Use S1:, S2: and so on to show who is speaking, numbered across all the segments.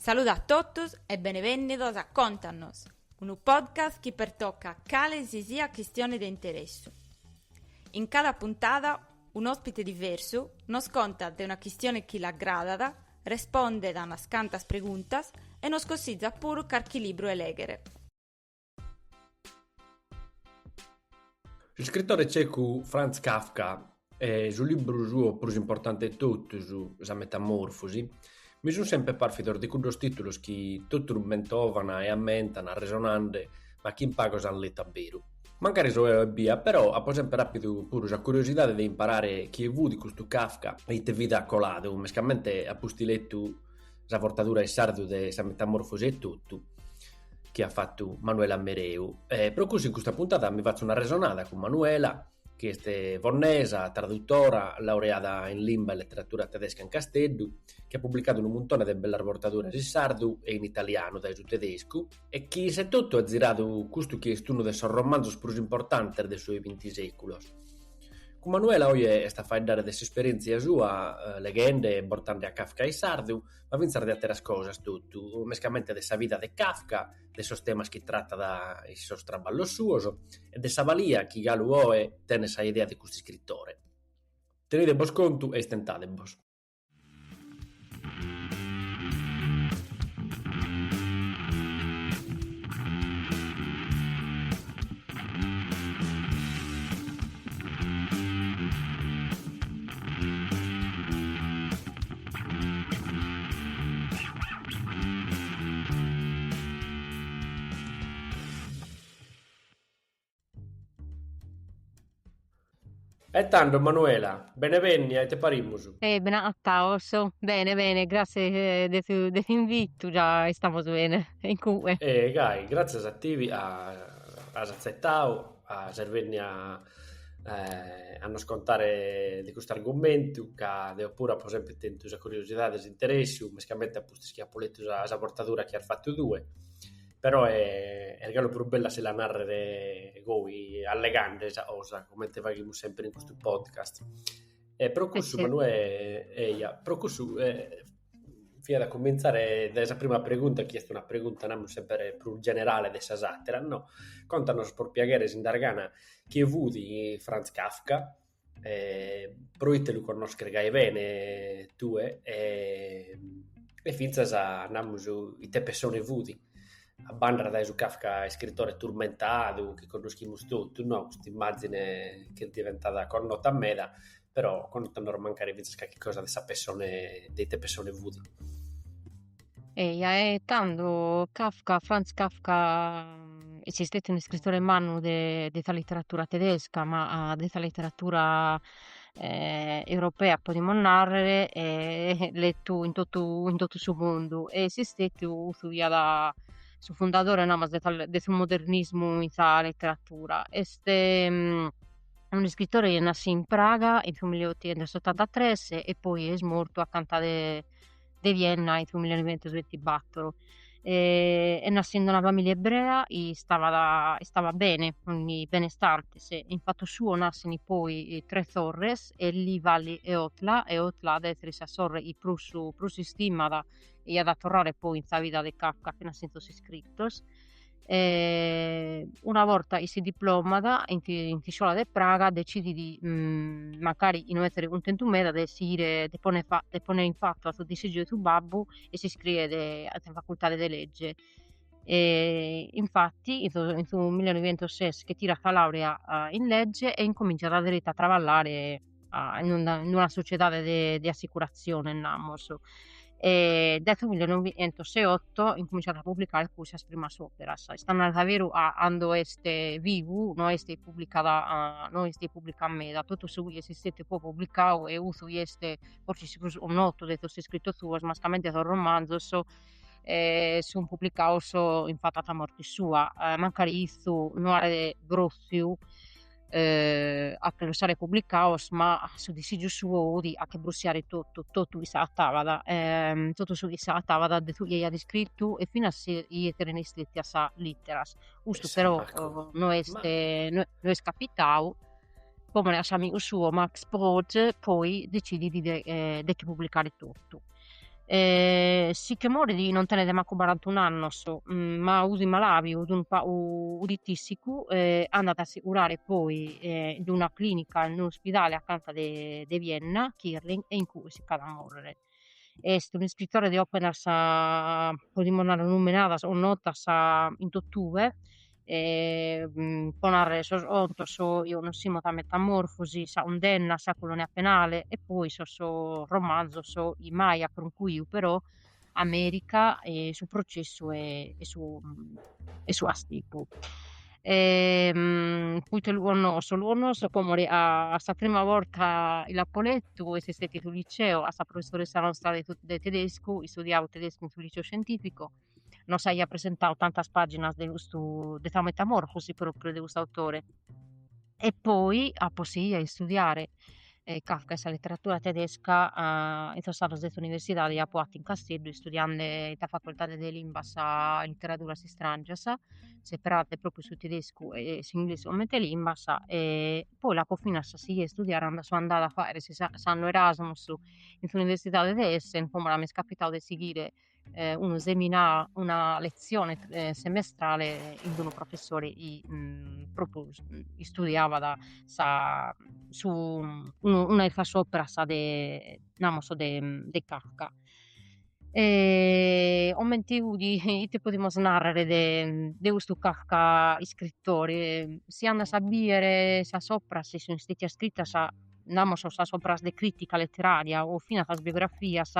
S1: Saluda a totus e benevènnidos a Contanos, unu podcast chi pertocat cale si siat chistione de interessu. In cada puntada un'òspite diversu nos contat de una chistione chi l'agradat, respondet unas cantas preguntas e nos consitzat puru carchi libru 'e lèghere.
S2: Su iscritore tzecu Franz Kafka e su libru suo prus importante de totus, Sa metamorfosi, mi sun semper pàrfidos de cuddos tìtulos chi totus mentovan e ammentan arresonende, ma chi in pagos ant letu a beru. Mancari so eo ebbia, però, apo semper àpidu puru sa curiosidade de imparare chie fut custu Kafka e ite vida at coladu, mescamente a pustis letu sa bortadura in sardu de Sa metamorfosi etotu. chi at fatu Manuela Mereu. E pro cussu in custa puntada mi fatzo un'arresonada cun Manuela, chi est fonnesa, tradutora, laureada in limba e leteratura tedesca in Casteddu, chi at publicadu unu muntone de bellas bortaduras in sardu e in italianu dae su tedescu, e chi issa etotu at ziradu custu chi est unu de sos romanzos prus importantes de su 'e binti sèculu. Cun Manuela oe est a faeddare de s'esperièntzia sua leghende e bortende a Kafka in sardu, ma fintzas de àteras cosas totu, mescamente de sa vida de Kafka, de sos temas chi tratat in sos traballos suos e de sa balia chi galu oe tenet sa idea de custu iscritore. Tenide·bos contu e istentade·bos. E tando Manuela, bene bennia ite parimus? E
S3: ben'attaus, bene bene, gratzias de s'invitu già istamus bene. Incue? Gai, gratzias
S2: a tibi ca as atzettau. a ses bennia a eh, a nos contare de custu argumentu, ca deo puru apo sempre tentu sa curiosidade e s'interessu, mescamente a pustis chi apo letu sa, sa bortadura chi as fatu tue, però è, est galu prus bellu a si la narrere goi, allegande sa cosa, comente faghimus sempre in custu podcast. E pro cussu, Manuè,
S3: eia,
S2: pro cussu... Eh, fiat a cumintzare dae sa prima pregunta chi est una pregunta namus semper prus generale de sas àteras no, contanos pro piaghere si nd'as gana chie fut Franz Kafka e proite lu connosches gai bene tue e e fintzas namus ite pessone fut, a banda dae su Kafka iscritore turmentadu chi connoschimus totu no, cust'immàzine chi est diventada connota meda però connotu a noras mancari fintzas calchi cosa de sa pessone de ite pessone fudi. Eia,
S3: e tando Kafka, Franz Kafka mm, est istetiu unu iscritore mannu de, de sa literatura tedesca, ma de sa literatura eh, europea, podimus narrer, e lettu in totu, in totu su mundu, e est istetiu cussu chi iat su fundadore, namus, de sa de su modernismu in sa literatura, est mm unu iscritore chi est nasciu in Praga in su milleotichentosotantatres e poi est mortu acanta de de Vienna in su millenoighentosvintibattor est nasciu in una familia ebrea istavat istavat bene fin benestantes e in fatu suo nascin poi tres sorres Elli Valli e Otla e Otla at a esser sa sorre chi prus prus istimat e at a torrare poi in sa vida de Kafka e finas in sos iscritos e una borta chi si diplomat in, in s'iscola de Praga decidit mancari chi no esseret cuntentu meda de sighire de ponner, de ponner in fatu a su disigiu de su babbu e s'iscriet a sa facultade de legge e infatti in su millenovientosses che tirat sa laurea in legge e incominzat deretu a traballare a, in una, in una sociedade de, de assicurazione, namos. E dae su 1908 incominciat a publicare puru sas primas operas, est a narrer su veru cando est vivu no est publicada, no est publicada meda, totu su chi est istetiu poi publicadu e custu chi est forsis su prus notu de sos iscritos suos, mascamente sos romanzos sun publicados in fatu de sa morte sua, mancari issu no aeret crofiu eh, a che los aer publicados, ma su disigiu suo fudi a che brussiare totu, totu chi s'agattabat, eh, totu su chi s'agattabat de su chi aiat iscrittu e finas si esseren istetias sas litteras. Custu eh, però oh, no est, ma... Eh, no, no est capitau, po more ca s'amigu suo Max Brod, poi decidit de, eh, de che publicare totu. e si che morit non tenet mancu barantun'annos, ma fudi malabiu fudi tisicu e andat a si curare poi in una clinica in un'ispidale acanta de Vienna Kierling e in cue si ch'at a morrere. Est un'iscritore de operas podimos narrer nomenadas o notas in totue po narrer sos contos sos chi connoschimos sa metamorfosi sa cundenna sa colonia penale e poi sos sos romanzos chi mai at concruiu però America e su processu e su e su castigu poita lu connosso lu connosso po more ca sa prima borta chi l'apo lettu est istetidu in su liceo ca sa professoressa nostra de tedescu istudiaus tedescu in su liceo scientifico nos aiat presentadu tantas pàginas de custu de sa metamorfosi pròpriu de custu autore e poi apo sighiu a istudiare Kafka e sa literatura tedesca in sos annos de s'universidade chi apo fatu in Casteddu istudiende in sa facoltade de limbas e literaturas istràngias, seperende pròpriu su tedescu e s'inglesu comente limbas e poi l'apo finas sighiu a istudiare cando so andada a fagher s'annu Erasmus in s'universidade de Essen, in ue m'est capitadu de sighire eh, unu seminà, una letzione eh, semestrale in unu professore i, mh, mm, propriu, mm, istudiabat sa, su, mm, unu, una de sas operas de, namos, de, mm, de Kafka. E, comente 'udi, ite podimus narrere de, de custu Kafka iscritore? Si andas a biere sas operas chi sunt istetias iscritas namus sas operas de critica letteraria o finas sas biografias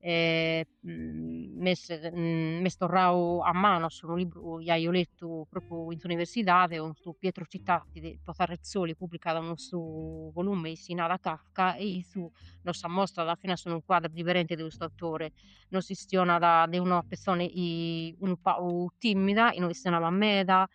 S3: e m'est m'est torradu a manos unu libru chi aio lettu propriu in s'universidade cun su Pietro Citati chi po sa Rizzoli publicat unu su volume chi si narat Kafka e issu nos ammostrat finas unu quadru diverente de custu autore nos chistionat de una petzone unu pagu timida chi no chistionabat meda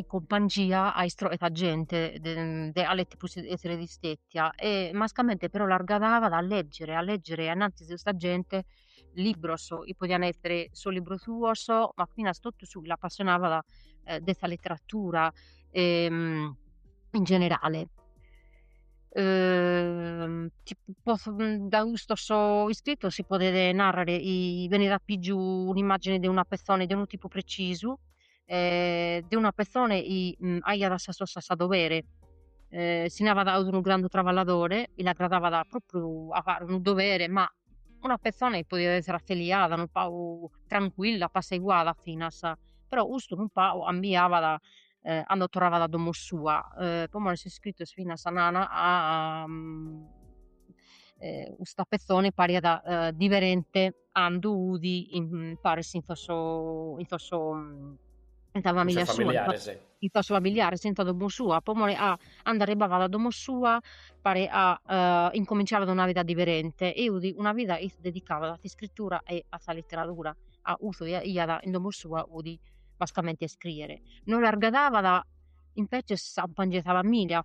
S3: in cumpangia a istrochere sa gente de de a leti prus e essere distetia e mascamente però l'argadabat a leggere a leggere annantis de custa gente libros chi podian essere sos libros suos ma finas totu su chi l'appassionabat de sa letteratura in generale ti potzo dae custos iscritos si podet narrer chi benit a pigiu un'immagine de una pezzone de unu tipu precisu eh, de una petzone chi mm, faiat sas cosas a dovere, eh, si narat ca 'udi unu grandu traballadore, chi l'agradabat propriu a fare unu dovere, ma una petzone chi podiat essere affeliada, unu pagu trancuilla, apasseguada finas, però custu unu pagu cambiabat eh, cando torrabat a domo sua, eh, po more sos iscritos finas nana a, a mm, eh, custa petzone pariat eh, diverente cando 'udi imparis in sos in sos in sa familia sua, familiares in sos
S2: familiares
S3: e in sa domo sua pro more ca cando arribabat a domo sua paret ca incominciaret una vida diverente e 'udi una vida dedicada a s'iscrittura e a sa litteradura ca su chi faiat in domo sua 'udi mascamente a iscriere non l'argadabat imbetzes sa famiglia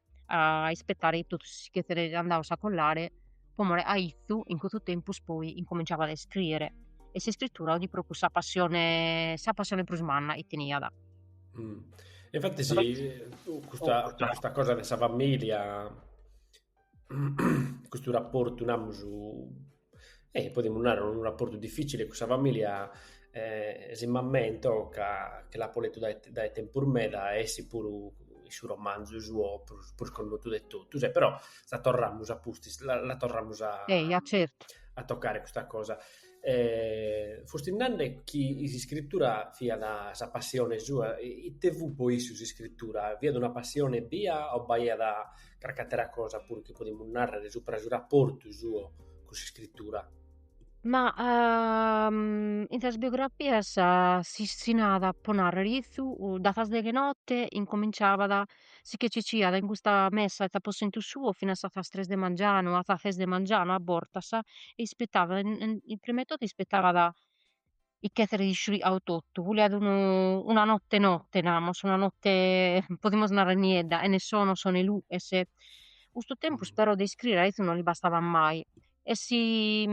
S3: a ispetare chi totus si ch'esserent andados a corcare po more ca issu in custu tempus poi incominciabat a iscriere e s'iscritura 'udi propriu sa passione sa passione prus manna chi teniat
S2: e infatti sì custa custa cosa de sa familia custu rapportu namus E podimus narrer unu rapportu difficile cun sa familia e si m'ammento ca che l'apo lettu dae dae tempus meda e essit puru in su romanzu suo prus prus connotu de totus e però la torramus a pustis la la torramus a
S3: a tocare custa
S2: cosa e fusti nande chi s'iscritura fiat sa passione sua, ite fut po issu s'iscritura? Fiat una passione ebbia o b'aiat Crach'àtera cosa puru chi podimus nàrrere subra su raportu suo cun s'iscritura.
S3: Ma in sas biografias si si narat, pro nàrrere issu, dae sas deghe 'e note incomintzàbat, si che ciciat in custa mesa 'e s'aposentu suo finas a sas tres de mangianu, a sas ses de mangianu a bortas e ispetàbat, prima 'e totu ispetàbat chi esseret iscurigadu totu, boliat unu una notte notte namus, una notte podimus narrer niedda, chene sonos chene luches, custu tempus però de iscriere a
S2: issu non li
S3: bastabat mai, e si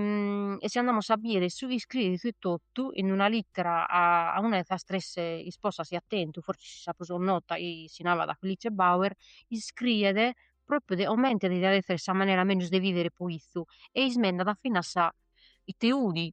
S3: e si andamus a bider su chi iscriet issu etotu in una littera a una 'e sas tres isposas chi at tentu, forsis sa prus nota si narat Felice Bauer, iscriet propriu de comente deviat essere sa manera mellus de viver po issu, e ismendat finas sa ite 'udi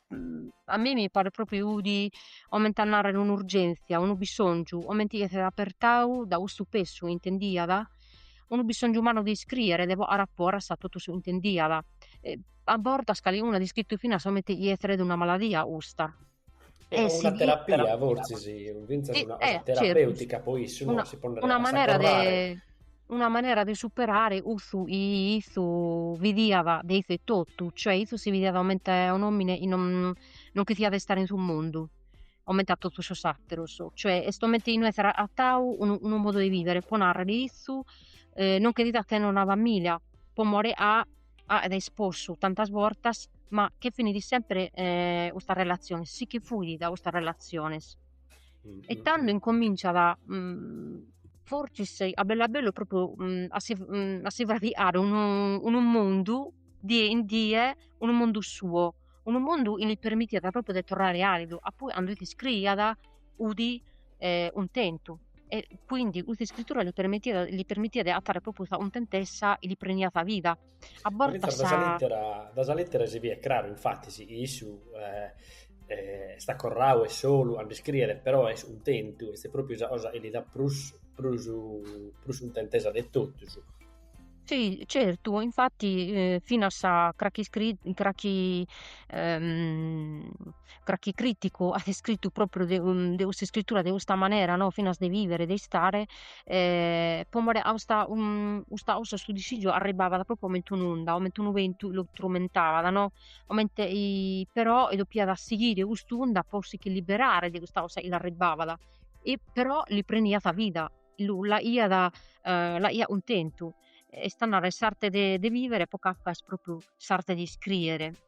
S3: a mie mi paret propriu chi 'udi comente a narrer un'urgenzia, unu bisongiu, comente chi esset apertadu da custu pesu chi intendiat, unu bisongiu mannu de iscriere, de bocare a foras totu su chi intendiat e a bortas calincunu at iscrittu finas comente chi esseret una maladia custa e si
S2: fit terapia
S3: forsis
S2: finzas una cosa terapeutica po issu
S3: no
S2: si podet narrer
S3: una manera de superare cussu chi issu vidiat de issu etotu, cioè issu si vidiat comente un'omine non chi siat de istare in su mundu comente a totu sos ateros, cioè est comente chi no esseret agatadu unu unu modu 'e vivere pro narrer issu non cheriat tenner una familia pro more ca est isposu tantas bortas ma che finit sempre custas relaziones si che fuit dae custas relaziones
S2: e tando
S3: incominciat fortzis a bellu a bellu propriu a si a si fraicare unu mundu die in die unu mundu suo unu mundu chi li permitiat propriu de torrare alidu ca poi cando iscriiat 'udi cuntentu e quindi custa iscritura li permitiat li permitiat de agatare propriu sa cuntentesa chi li preniat sa vida A bortas sa... Da sa
S2: lètera si biet craru, infatis, chi issu est acorrau e solu cando iscriet, però est cuntentu, est pròpiu sa cosa chi li dat prus prus prus cuntentesa de totus.
S3: Si, certu, infatis finas sa, crachi iscri, crachi cracchi criticu at iscrittu propriu de de custa iscrittura de custa manera no finas de vivere de istare e po more de 'usta custa 'osa su disizu arribbavat propriu comente un'onda comente unu bentu lu turmentavat no comente però doppiat sighire cust'unda po si chi liberare de custa cosa chi l'arribbavat e però li preniat sa vida lu lu faghiat lu faghiat cuntentu est a narrer s'arte de vivere po Kafka est propriu s'arte de iscriere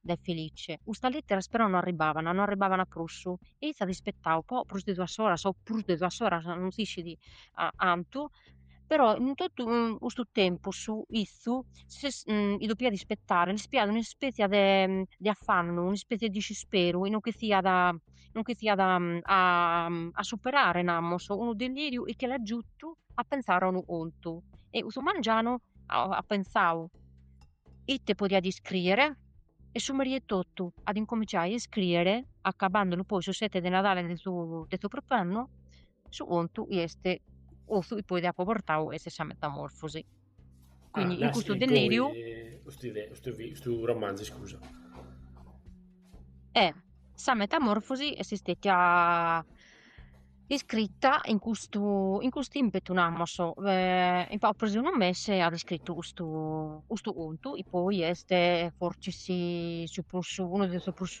S3: de Felice. Custas lìteras però no arribavana, no arribavana prus, e iat ispettau po prus de duas oras, o prus de duas oras, non si scit cantu, però in totu custu tempus issu depiat ispettare, l'est pigau una ispètzia de de afannu, un'ispètzia de disisperu, non resessiat non resessiat a superare, namus, unu deliriu chi l'at giutu a pentzare a unu contu, e custu mangianu at pentzau ite podiat iscrìere e su merie etotu at incominciadu a iscrìere, acabandolu poi su sete de Nadale de su de su propriu annu, su contu chi est su chi poi apo portadu est sa metamorfosi.
S2: Quindi in custu deliriu custu romanzu iscusa. E
S3: sa metamorfosi est stetia Iscritta in custu in custu impetu namos in pagu prus de unu mese at iscrittu custu custu contu e poi est fortzis su prus unu de sos prus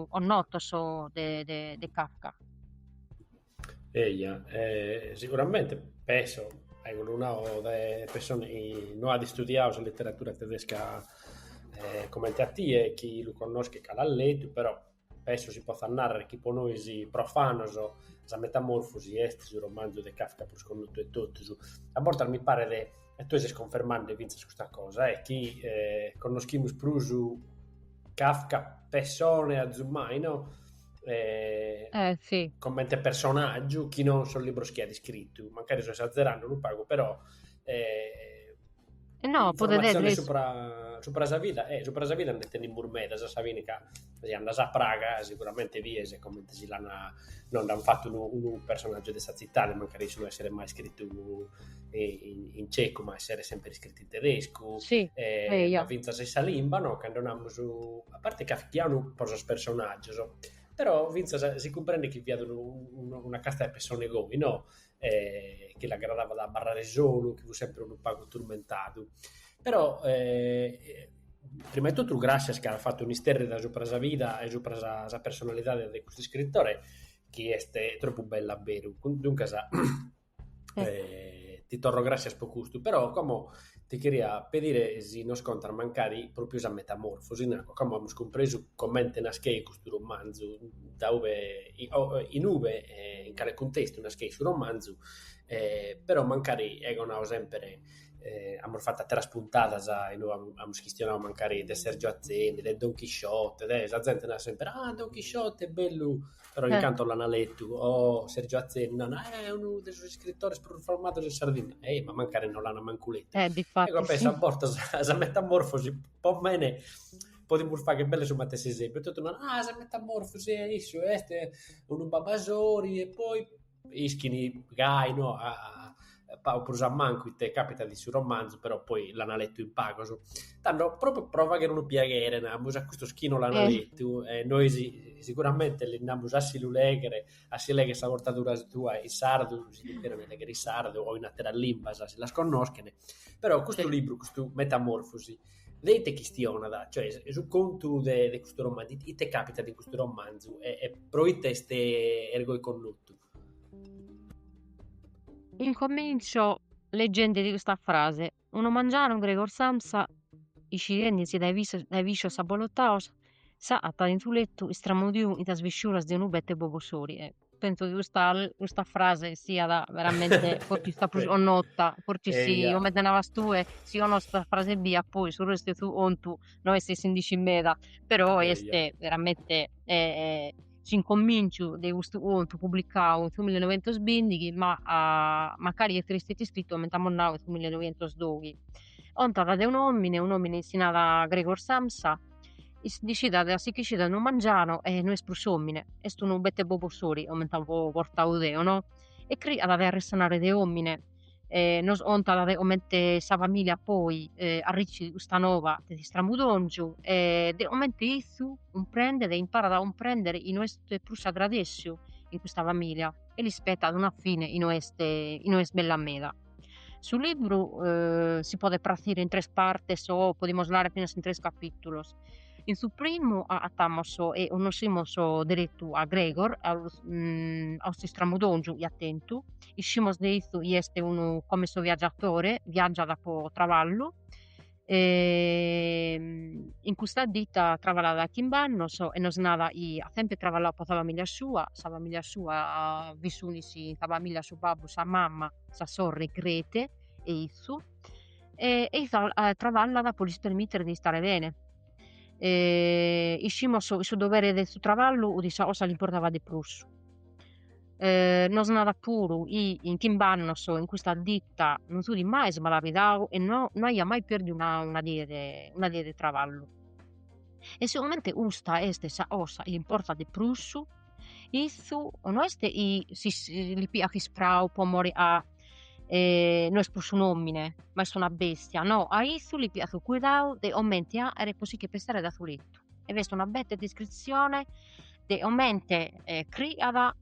S3: connotos de de de Kafka.
S2: Eja e siguramente penso a cuddu nau de pessone chi no at istudiadu sa literatura tedesca comente a tie chi lu connoschet ca l'at letu però penso si potzat nàrrere chi pro nois profanos sa metamorfosi est su romanzu de Kafka prus connotu de totus. A bortas mi paret, e tue ses cunfermende fintzas custa cosa, chi connoschimus prus Kafka pessone azumai
S3: no? comente
S2: personàgiu chi non sos libros chi at iscritu, mancari so esatzerende unu pagu però
S3: No, podet essere. Informatziones supra,
S2: supra sa vida, eh, supra sa vida nde tenimus medas, fintzas ca si andas a Praga sicuramente bies comente si l'an non nd'an fatu unu, unu personaggio de sa tzitade, mancari issu no esseret mai iscritu in, in cecu, ma esseret sempre iscritu in tedescu, sì, eh, eh,
S3: io.
S2: fintzas in sa limba, no? Cando namus, a parte kafkianu pro sos personaggios, però fintzas si cumprendet chi fiat unu, unu, una casta de pessone goi, no? e chi l'agradabat a abarrare solu, chi fut semper unu pagu turmentadu. Però prima 'e totu gràssias chi as fatu un'isterrida subra sa vida e subra sa sa personalidade de custu iscritore chi est tropu bellu a beru, duncas ti torro gràssias pro custu, però como ti cheria pedire si nos contas mancari pròpiu sa metamorfosi, in anco como amus cumpresu comente nascheit custu romanzu, dae ube in ube e in cale cuntestu nascheit su romanzu, però mancari ego nau semper, amus fatu ateras puntadas inue amus chistionau mancari de Sergio Atzeni, de don Chisciote, de sa zente narat semper, ah don Chisciote bellu però in cantos l'ana letu, o Sergio Atzeni nana, eh, unu de sos iscritores prus famados in Sardigna, e ma mancari no l'ana mancu letu. Eh, difatis. Ecco, penso
S3: a bortas
S2: a sa metamorfosi, po mene, podimus fagher belle su matessi esempiu, totu naran, ah, sa metamorfosi, e issu est unu babasori, e poi Ischin gai no pagu prus a mancu ite càpitat in su romanzu, però poi l'ant letu in pagos. Tando, pròpiu pro fàghere unu piaghere, namus, a custos chi non l'ant letu, e nois siguramente lis namus a si lu lèghere, a si lèghere sa bortadura tua in sardu, si lu cherent lèghere in sardu o in àteras limbas, si las connoschent, però custu libru, custu Metamorfosi De ite chistionat, cioè, su contu de de custu romanzu? Ite càpitat in custu romanzu e e pro ite est ergoi connotu?
S3: Incomintzio legendi de custa frase, unu mangianu Gregor Samsa, iscidendisi dae dae viscios abbolotados, s'agattat in su lettu istramudiu in sas visciuras de unu bete bobosori penso chi custa, custa frase siat veramente fortzis sa prus 'onnota, fortzis sì, 'omente navas tue, si 'onnoschet sa frase ebbia, poi su restu 'e su contu no est si nd'iscit meda, però est veramente eh, s'incominciu de custu contu publicau in su millenovientosbindighi, ma mancari est istetiu iscritu coment'at nau in su millenovientosdoghi, contat de un'omine, un'omine chi si narat Gregor Samsa Nd'iscidat a si ch'iscidat unu mangianu e no est prus omine, est unu bete bobosori comente apo bortau deo no, e criat a arresonare de omine e nos 'ontat comente sa familia poi arricit custa noba de s'istramudongiu e de comente izzu cumprendet e imparat a cumprender chi no est prus s'agradessiu in custa familia e l'ispetat una fine chi no est bella meda. Su libru eh, si podet pratzire in tres partes o podimus narrer finas in tres capìtulos. In su primu agatamos e connoscimus deretu a Gregor, a, mm, a custu istramudongiu 'i at tentu. Iscimus de itzu 'i est unu commesso viaggiatore, viaggiat po traballu, E in custa dita traballat dae chimb'annos e nos nada chi at sempre traballau po sa familia sua, sa familia sua vi sunis in sa familia su babbu, sa mama, sa sorre Grete e izzu e e traballat po lis permitter de istare bene e iscimus su dovere de su traballu fut sa 'osa chi li importavat de prus Eh, nos narat puru chi in chimb'annos in custa ditta non s'udi mai smalabidau e no, no aiat mai perdiu una, una die de, una die de traballu. E sigomente custa est sa cosa chi l'importat de prus, issu no est chi li piat ispreu po mori a no est prus un'omine, ma est una bestia, no, a issu li piat cuidadu de comente aere po si che pesare da su lettu. e est una bete descritzione de comente eh, criat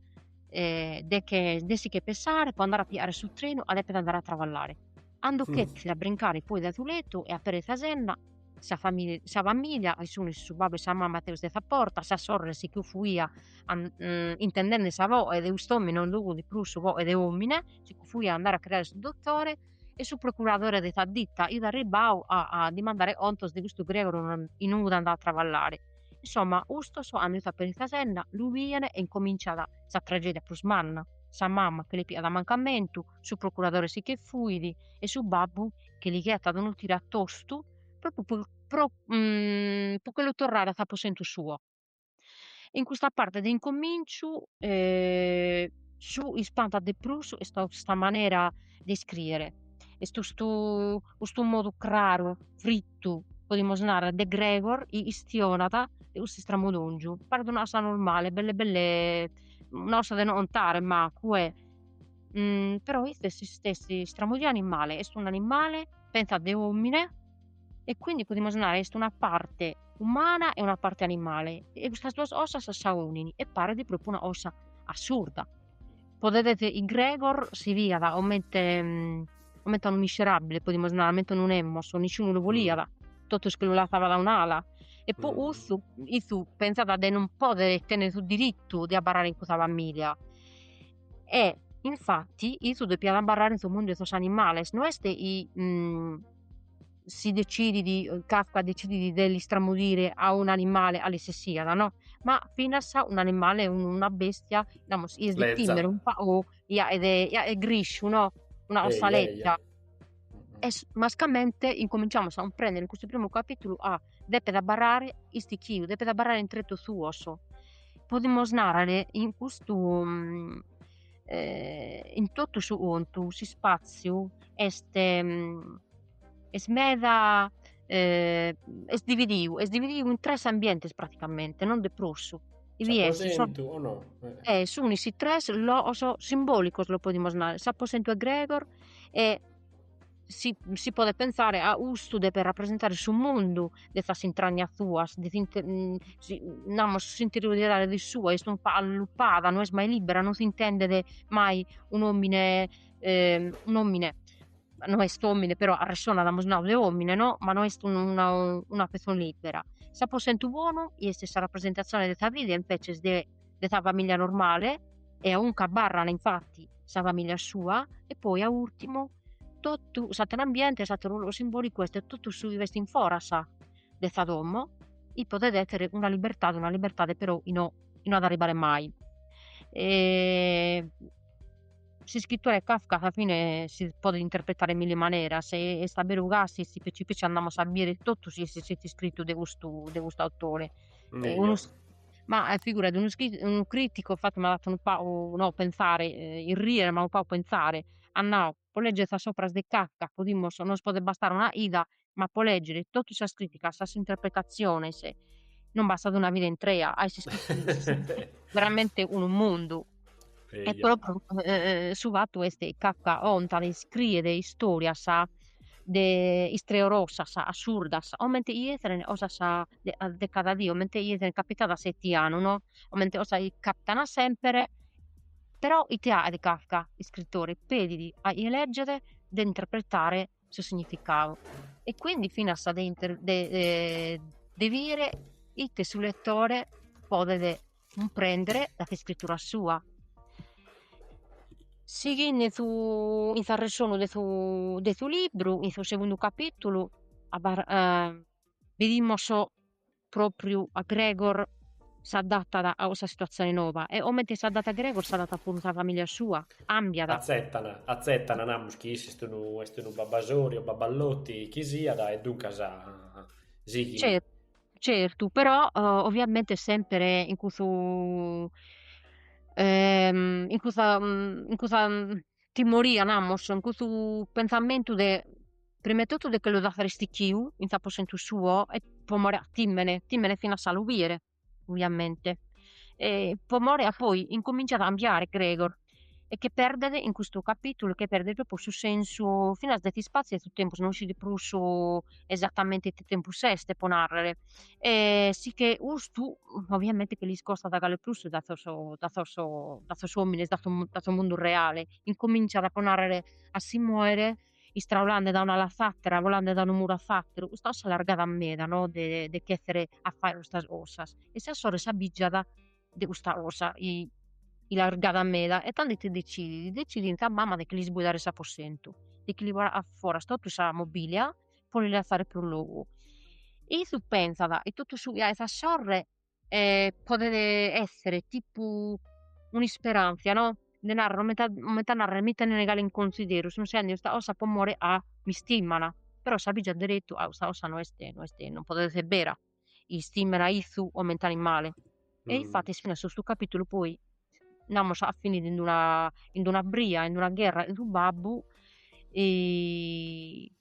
S3: eh, de che de si che pesare po andare a piare su treno a depet andare a travallare ando mm. chetzi a brincare poi da su letu e aperit sa zenna sa famiglia, sa famiglia e sunu su babbu e sa mamma teus de sa porta sa sorre si che fuia an, mm, intendende sa voce de ust'omine non jughet prus voce de omine si che fuia andare a criare su dottore e su procuradore de sa ditta iat arribbau a dimandare contos de custu Gregor chi no est andau a traballare. Insomma, ustos ando issu aperit sa zenna, lu bien e incominciat sa tragedia prus manna, sa mama che li piat mancamentu, su procuradore si che fuit e su babbu che li ghetat unu tire a tostu pro pro che lu torrare a s'aposentu suo. In custa parte de incominciu su chi ispantat de prus est custa manera de iscrìere, est custu custu modu craru, frittu, podimus narrer, de Gregor chi chistionat de custu istramudòngiu, paret una cosa normale, belle belle una cosa de no contare mancu e però ite est s'istessi istramudiu animale, est un'animale pentzat de omine e quindi podimus nare est una parte umana e una parte animale e custas duas osas s'aunin e paret propriu una osa assurda. Podet esser chi Gregor si biat comente mm, comente a unu miserabile podimus nare, comente unu nemos, nisciunu lu boliat, mm. totus che lu lassavant a un'ala e po mm. cussu issu pentzat de non poder tenner su diritu de abarrare in cussa familia E infatti issu depiat abarrare in su mundu 'e sos animales, no est si decidit Kafka decidit de l'istramudire a un'animale calesisiat no, ma finas un'animale una bestia namus chi est de timere o chi est de grisciu no una cosa leza e mascamente incominciamus a cumprender in custu primu capitulu a depet abarrare istichiu, depet abarrare in tretos suos, podimus narrer in custu in totu su contu s'ispazziu est est meda est dividiu est dividiu in tres ambientes praticamente non de prus e
S2: sun is
S3: tres loos simbolicos los podimus narrer s'aposentu 'e Gregor e si si podet pensare ca custu depet rapresentare su mundu de sas intragnas suas de si namus s'interioridade de sua est un'allupada no est mai libbera non s'intendet mai un'omine un'omine no est omine però arressonat amus nau de omine no ma no est una pessone libbera s'aposentu bonu est sa rapresentazione de sa vida invece de de sa famìllia normale e a unue abarran infati sa famìllia sua e poi a ùrtimu totu s'àteru ambiente e s'àteru logu simbòlicu est totu su chi b'est in foras de sa domo chi podet èssere una libertade una libertade però chi no chi no at a arribbare mai e s'iscritore Kafka a sa fine si podet interpretare in milli maneras e est a beru ca si si petzi petzi andamus a bire totu su chi est iscritu de custu de custu autore e unu Ma eh, figurati, unu, scri- unu criticu, infatti, m'at fatu unu pagu, no pensare, eh, irrìere, ma unu pagu pensare, at nau, po leggere sas operas de Kafka podimus, nos podet bastare una 'ida, ma po leggere totu sas criticas, sas interpretatziones, non bastat una vida intrea, ca est iscritu veramente unu mundu. E propriu su fatu est Kafka contat e iscriet istorias de istreorosas, assurdas, comente chi esseren cosas de cada die, comente chi esseren capitadas fetianu no, comente cosas chi capitan sempre, però ite faghet Kafka, iscritore, pedit a chie legget de interpretare su significadu e quindi finas de inter de de bire ite su lettore podet cumprendere da s'iscrittura sua, sighende in su in s'arressonu de su de su libru in su segundu capitulu abbar bidimus propriu ca Gregor s'adatat a cussa situatzione noba e comente s'adatat Gregor s'adatat puru sa familia sua, càmbiat. Atzetan, atzetan,
S2: namus chi issu est unu est unu babasori o baballoti chi siat e duncas
S3: sighint. Certu, però oviamente semper in cussu in cussa in cussa timoria namus in custu pentzamentu de prima 'e totu de che lu dassare istichiu in s'aposentu suo e pro more ca tìmene, tìmene finas a lu biere oviamente e pro more ca poi incominzat a cambiare Gregor e che perdet in custu capitulu che perdet propriu su sensu finas de s'ispassiu e su tempus, no ischit prus esatamente ite tempus est pro narrer E si che custu ovviamente che l'iscostat gale prus dae sos dae sos dae sos omines dae su dae su mundu reale, incominzat a po narrer a si moere istraulende dae un'ala a s'attera volende dae unu muru a s'atteru, custa cosa l'agradat meda no de de ch'essere a fagher custas cosas e sa sorre s'abijat de custa cosa chi l'agradat meda e tando ite decidit, decidit in sa mamma de che l'isboidare s'apossentu de che li bogare a foras totu sa mobilia po li lassare prus logu. Issu pensat e totu su chi 'aet sa sorre podet essere tipu un'isperanzia no, de narrer coment'a coment'a narrer mi tenene gale in consideru sun 'aende custa cosa po more ca mi istimman, però s'abijat derettu ca custa cosa no est no est non podet essere bera istimmen a issu o ment'an in male. E infatis finas
S2: custu
S3: capitulu poi namus at finidu in una in una bria in una gherra in su babbu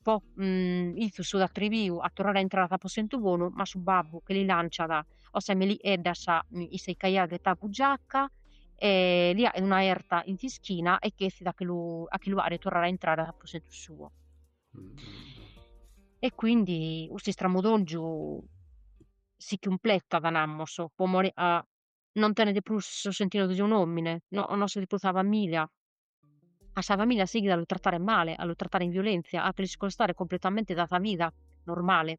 S3: poite issu s'at atriviu a torrare a intrare a s'aposentu bonu ma su babbu che li lanciat cosa 'e meli'eddas chi si ch'aiat ghetau in bugiacca e li 'aet una 'erta in s'ischina e ch'essit a che lu a che lu 'aere torrare a intrare a s'aposentu suo
S2: E
S3: quindi custu istramudòngiu si cumpletat, namus, po more ca non tenet prus su sentidu de un'òmine, no no si prus sa familia, a sa familia sighit a lu tratare male, a lu tratare in violentzia, a lu iscostare cumpletamente dae sa vida normale.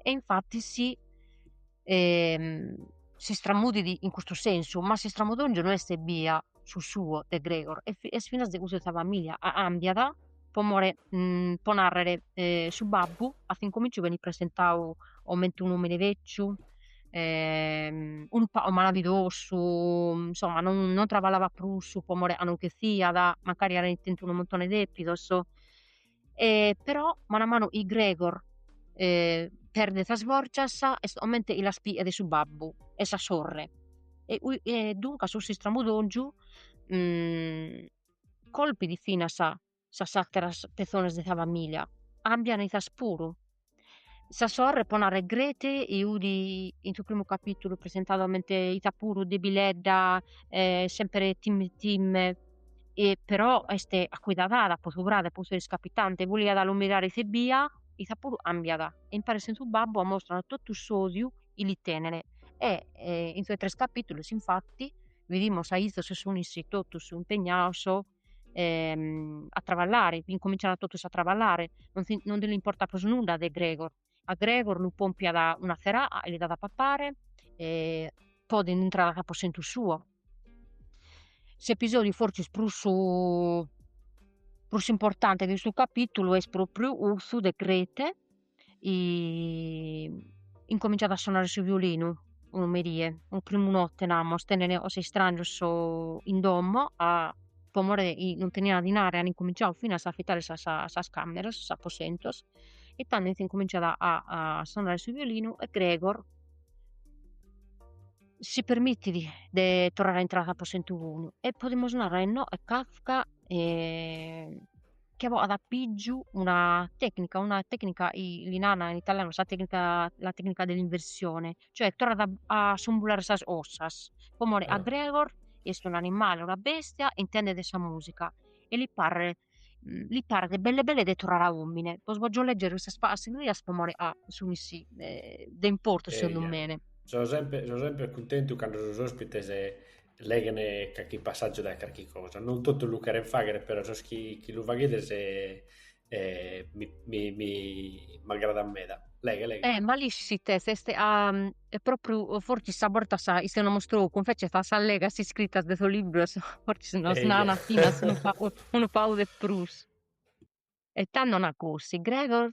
S3: E infatis s'istramudit in custu sensu, ma s'istramudòngiu no est ebbia su suo de Gregor e est finas de cussu de sa familia cambiat po more po narrer su babbu a s'incomminciu benit presentadu comente un'omine vecciu unu pagu malavidosu insomma non non traballavat prus po more ca non ch'essiat mancari aeret tentu unu muntone 'e depidos e però manu a manu chi Gregor perdet sas forgias est comente chi las pigat su babbu e sa sorre e e duncas cussu istramudongiu colpit finas sas atteras pezones de sa familia cambian issas puru Sa sorre po narrer Grete 'udi in su primu capitulu presentadu comente issa puru debilledda e sempre timme timme e però est accuidadada po su frade e po su chi est capitende e boliat lu mirare ite bia issa puru cambiat e imparet cun su babbu ammostranu totu s'odiu chi li tenene e e in sos tres capitulus infatti bidimus aizu chi sun issi totus impegnados ehm, a travallare, incominciant totus a travallare, non, si, non nde l'importat prus nudda de Gregor, a Gregor lu pompiat una tzeraca e li dat a papare e poi ddi intrat a s'aposentu suo. S'episòdiu forsis prus prus importante de custu capitulu est propriu cussu de Grete incominzat a sonare su violinu, unu merie, unu primu notte namus, tenen sos istrangios in domo a po more chi non tenian dinare an incominzau finas a afitare sas sas cammeras, sos aposentos e tando ite incominzat a sonare su violinu e Gregor si permittit de torrare a intrare a s'aposentu puru e podimus narrer no e Kafka che bogat a pìgiu una tecnica, una tecnica li nana in italianu sa tecnica la tecnica dell'inversione, cioè torrat a sumbulare sas 'osas, po more 'a Gregor est
S2: un
S3: animale, una bestia e intendet sa musica e li paret li paret belle belle de torrare a omine. Bos bògio leggere custas pagas rias po more 'a sun mi si eh, de importu segundu me. So semper, so
S2: semper cuntentu cando sos ospites leghen carchi passàgiu dae carchi cosa, non totu lu cheren fàghere, però sos chi, chi lu faghides eh, mi, mi, mi m'agradat meda. Leghe, leghe. Eh, ma l'iscis ite
S3: est a... e propriu, fortzis a bortas ischiat una mostrocu, invece sas allegas iscritas de sos libros, fortzis nos nana finas unu pagu de prus. E tando nat 'osi, Gregor?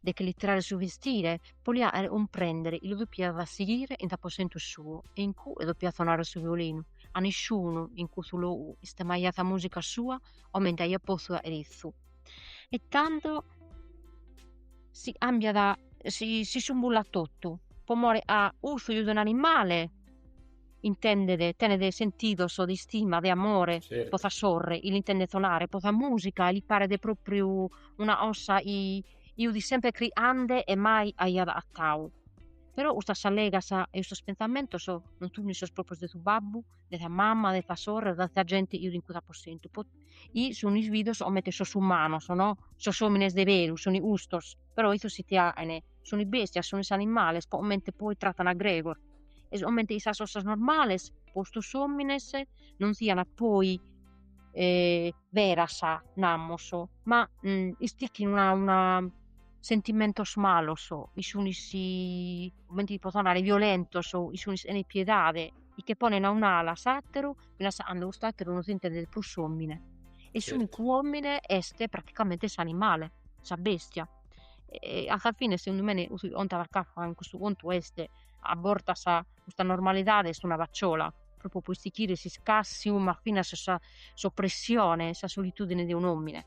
S3: de che li tirare su vestire, po li 'aere 'umprendere, 'i lu dopiat sighire in s'aposentu suo e in cue dopiat sonare su violinu, 'a nisciunu in cussu logu istemaiat sa musica sua comente aiat potzu 'aere issu, e tando si 'ambiat si si sumbullat tottu, po more 'a 'ussu 'i udit un'animale, intendet, tenet sentidos de istima, de amore po sa
S2: sorre, 'i
S3: l'intendet sonare, po sa musica e li paret propriu una 'osa 'i udit sempre cri'ande e mai aiat a'atau. Però custas allegas e custos pentzamentos non sunis sos proprios de su babbu, de sa mama, de sa sorre, de sa gente 'i udit in cussu aposentu, po 'i sunis bidos comente sos umanos no, sos omines de veru sun custos. però issos si ti aen, sunis bèstias, sunis animales, comente poi tratan a Gregor, e comente in sas 'osas normales po custos omines non sian poi beras, namus, ma istichin una una sentimentos malos, 'i sunis comente ti potzo narrer, violentos, 'i sunis sena piedade, chi che ponen a un'ala s'ateru finas a 'ando cust'atteru non s'intendet prus omine e s'unicu omine est praticamente s'animale sa bestia e a sa fine segundu mene custu chi 'ontat Kafka in custu contu est a bortas custa normalidade est una facciola propriu po istichire s'iscassiu ma finas sa s'oppressione sa solitudine de un'omine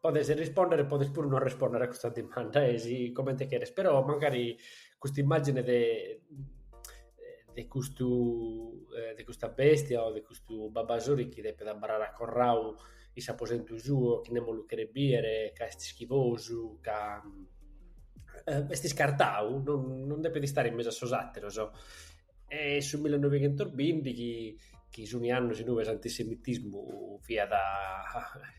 S2: Podes rispòndere e podes puru non rispòndere a custa dimanda, e si comente cheres, però mancari custa immàgine de de custu de custa bestia o de custu babasori chi depet abarrare acorrau in s'aposentu suo, chi nemos lu cheret bìdere, ca est schifosu, ca est iscartau, non depet istare in mesu a sos àteros E su millenoighentusbinti chi chi sun is annus inue s'antisemitismu fiat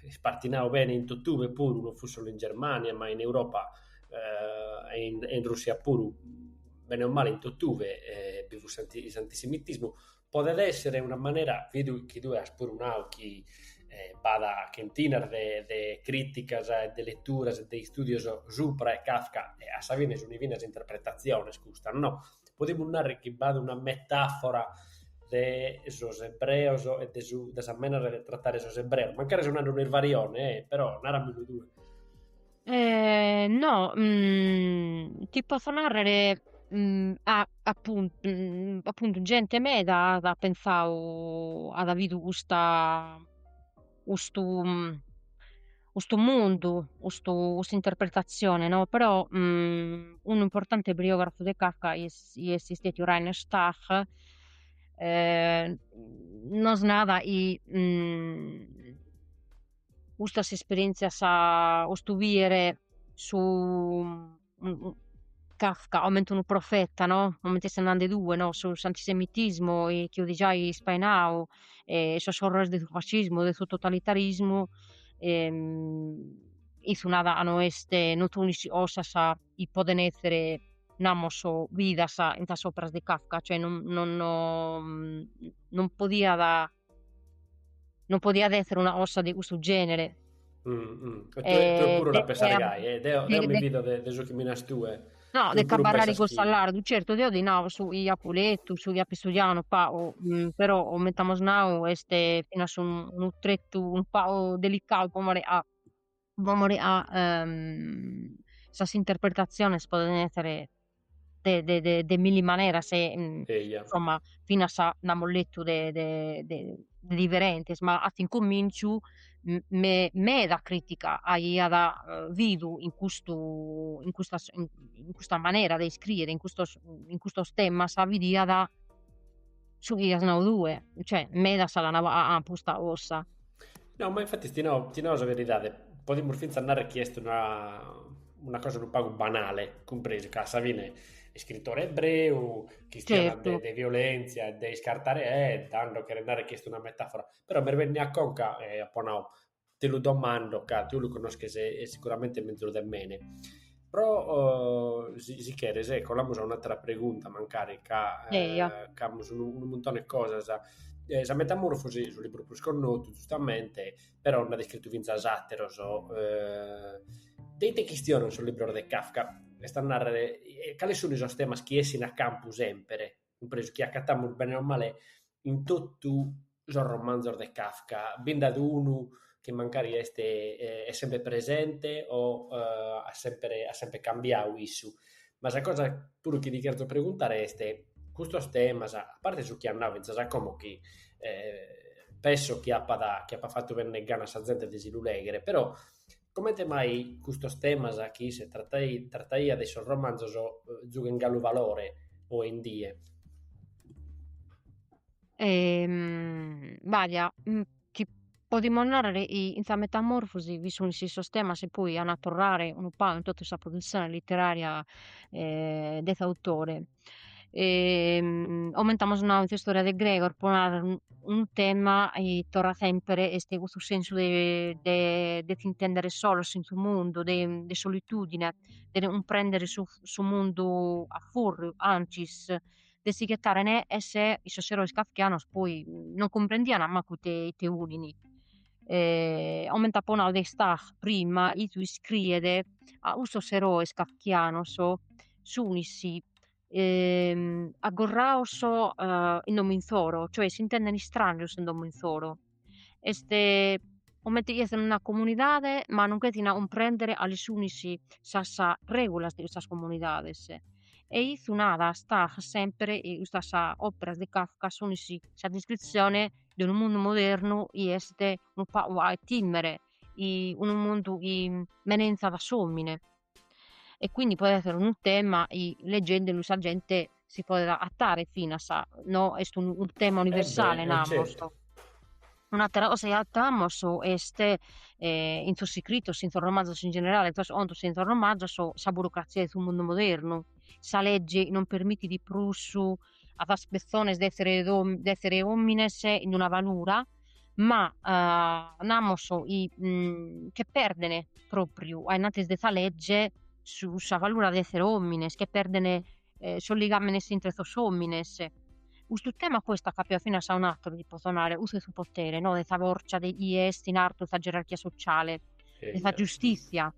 S2: ispartinau bene in totue puru, non fut solu in Germania ma in Europa e in e in Russia puru, bene o male in totue bi fut s'anti s'antisemitismu, podet èssere una manera, chi tue chi tue as puru nau chi b'at chentinas de de crìticas e de leturas e de istùdios supra e Kafka e a sa fine sunt finas interpretatziones custas no Podimus narrer chi b'at una metàfora de sos ebreos e de su de sa manera de trattare sos ebreos, mancari so nande un'isvarione e, però, naramilu tue. Eh no,
S3: ti potzo narrere appuntu appuntu gente meda at pensau at bidu custa custu custu mundu, custu custa interpretatzione no, però unu importante biògrafu de Kafka est istètiu Reiner Stach nos narat chi custas esperièntzias custu bìdere su Kafka comente unu profeta no, comente ses nande tue no, su s'antisemitismu chi fut giai ispainau e sos orrores de su fascismu, de su totalitarismu isse nat no est non sunis cosas chi poden esser namos bidas in sas operas de Kafka, cioè non non non podiat non podiat essere una cosa de custu genere. Mm,
S2: mm. E tue, eh, tue puru la pensas gai, eh, deo, deo de, mi fido de, de su chi mi nas tue. No, de cabarrare
S3: con Sallardo, certo, deo ti nao su chi apu letu, su chi apu studiau unu pagu, mm, però, coment'amus nau, est finas unu, unu tretu unu pagu delicau po more ca sas interpretatziones podent essere de de de de milli maneras e Eja. insomma finas nd'amus letu de de de diferentes, ma a s'incomminciu me- meda critica aiat bidu in custu in custa in custa manera de iscriere in custos in custos temas bidiat su chi as nau tue, cioè medas la nant custa cosa. No, ma
S2: infatti ti nau, ti nau sa veridade, podimus fintzas narrer chi est una, una cosa unu pagu banale, cumpresu ca a sa fine iscritore ebreu, chistiana de, de
S3: violentzia e de
S2: iscartare e tando cheret narrer chi est una metafora, però mi est bennidu a conca e apo nau, ti lu domando ca tue lu connosches e sicuramente mezus de mene, però si cheres colamus a un'atera pregunta mancari ca
S3: ca amus unu unu
S2: muntone 'e cosas, sa Metamorfosi est su libru prus connotu giustamente, però nd'at iscritu finzas ateros de ite chistionan sos libros de Kafka, est a narrer cales sun sos temas chi 'essint a campu sempre cumpresu chi acatamus bene o male in totu sos romanzos de Kafka, bi nd'at unu chi mancari est est semper presente o at semper at semper cambiadu issu, ma sa cosa puru chi ti cherzo preguntare est, custos temas, a parte su chi at nadu fintzas a como chi penso chi apat chi apat fatu bènnere gana a sa zente de si lu lèghere, però Comente mai custos temas chi isse trataiat in sos romanzos giughen galu valore oe in die?
S3: Baja, chi podimus narrer chi in sa Metamorfosi bi sunis sos temas chi poi an a torrare unu pagu in totu sa produtzione literaria de s'autore, comente amus nadu in s'istorìa de Gregor pro narrer unu tema chi torrat sempre est custu sensu de de de si intender solos in su mundu de de solitudine de non cumprender su su mundu a furriu anzis de si ghettare neghes e sos erois kafkianos poi non cumprendian mancu ite ite olin comente apo nadu de Stach prima issu iscriet ca custos erois kafkianos sunis aggorrados in domo insoro, cioè s'intenden istranios in domo insoro, est comente chi est una comunidade ma non chettin a cumprender cales sunis sas regulas de custas comunidades e issu nada Stach sempre custas operas de Kafka sun sa descritzione de unu mundu modernu chi est unu pagu a timere unu mundu chi menenzat s'omine e quindi podet essere unu tema chi legendelu sa gente si podet agatare finas, no est unu tema universale eh beh, namus. Certo.
S2: Un'atera
S3: cosa chi agattamos est in sos scritos, in sos romanzos in generale, in contos e in sos romanzos, sa burocrazia de su mundu modernu, sa legge non permitit prus a sas pessones de essere de essere omines in una valura ma namus che perdene propriu a innantis de sa legge su sa valura de essere omines che perdene sos ligamenes intre sos omines custu tema poi est accapiadu finas a un'atteru si posso narrer cussu 'e su potere no de sa forza de chie est in artu 'e sa gerarchia sociale de sa giustizia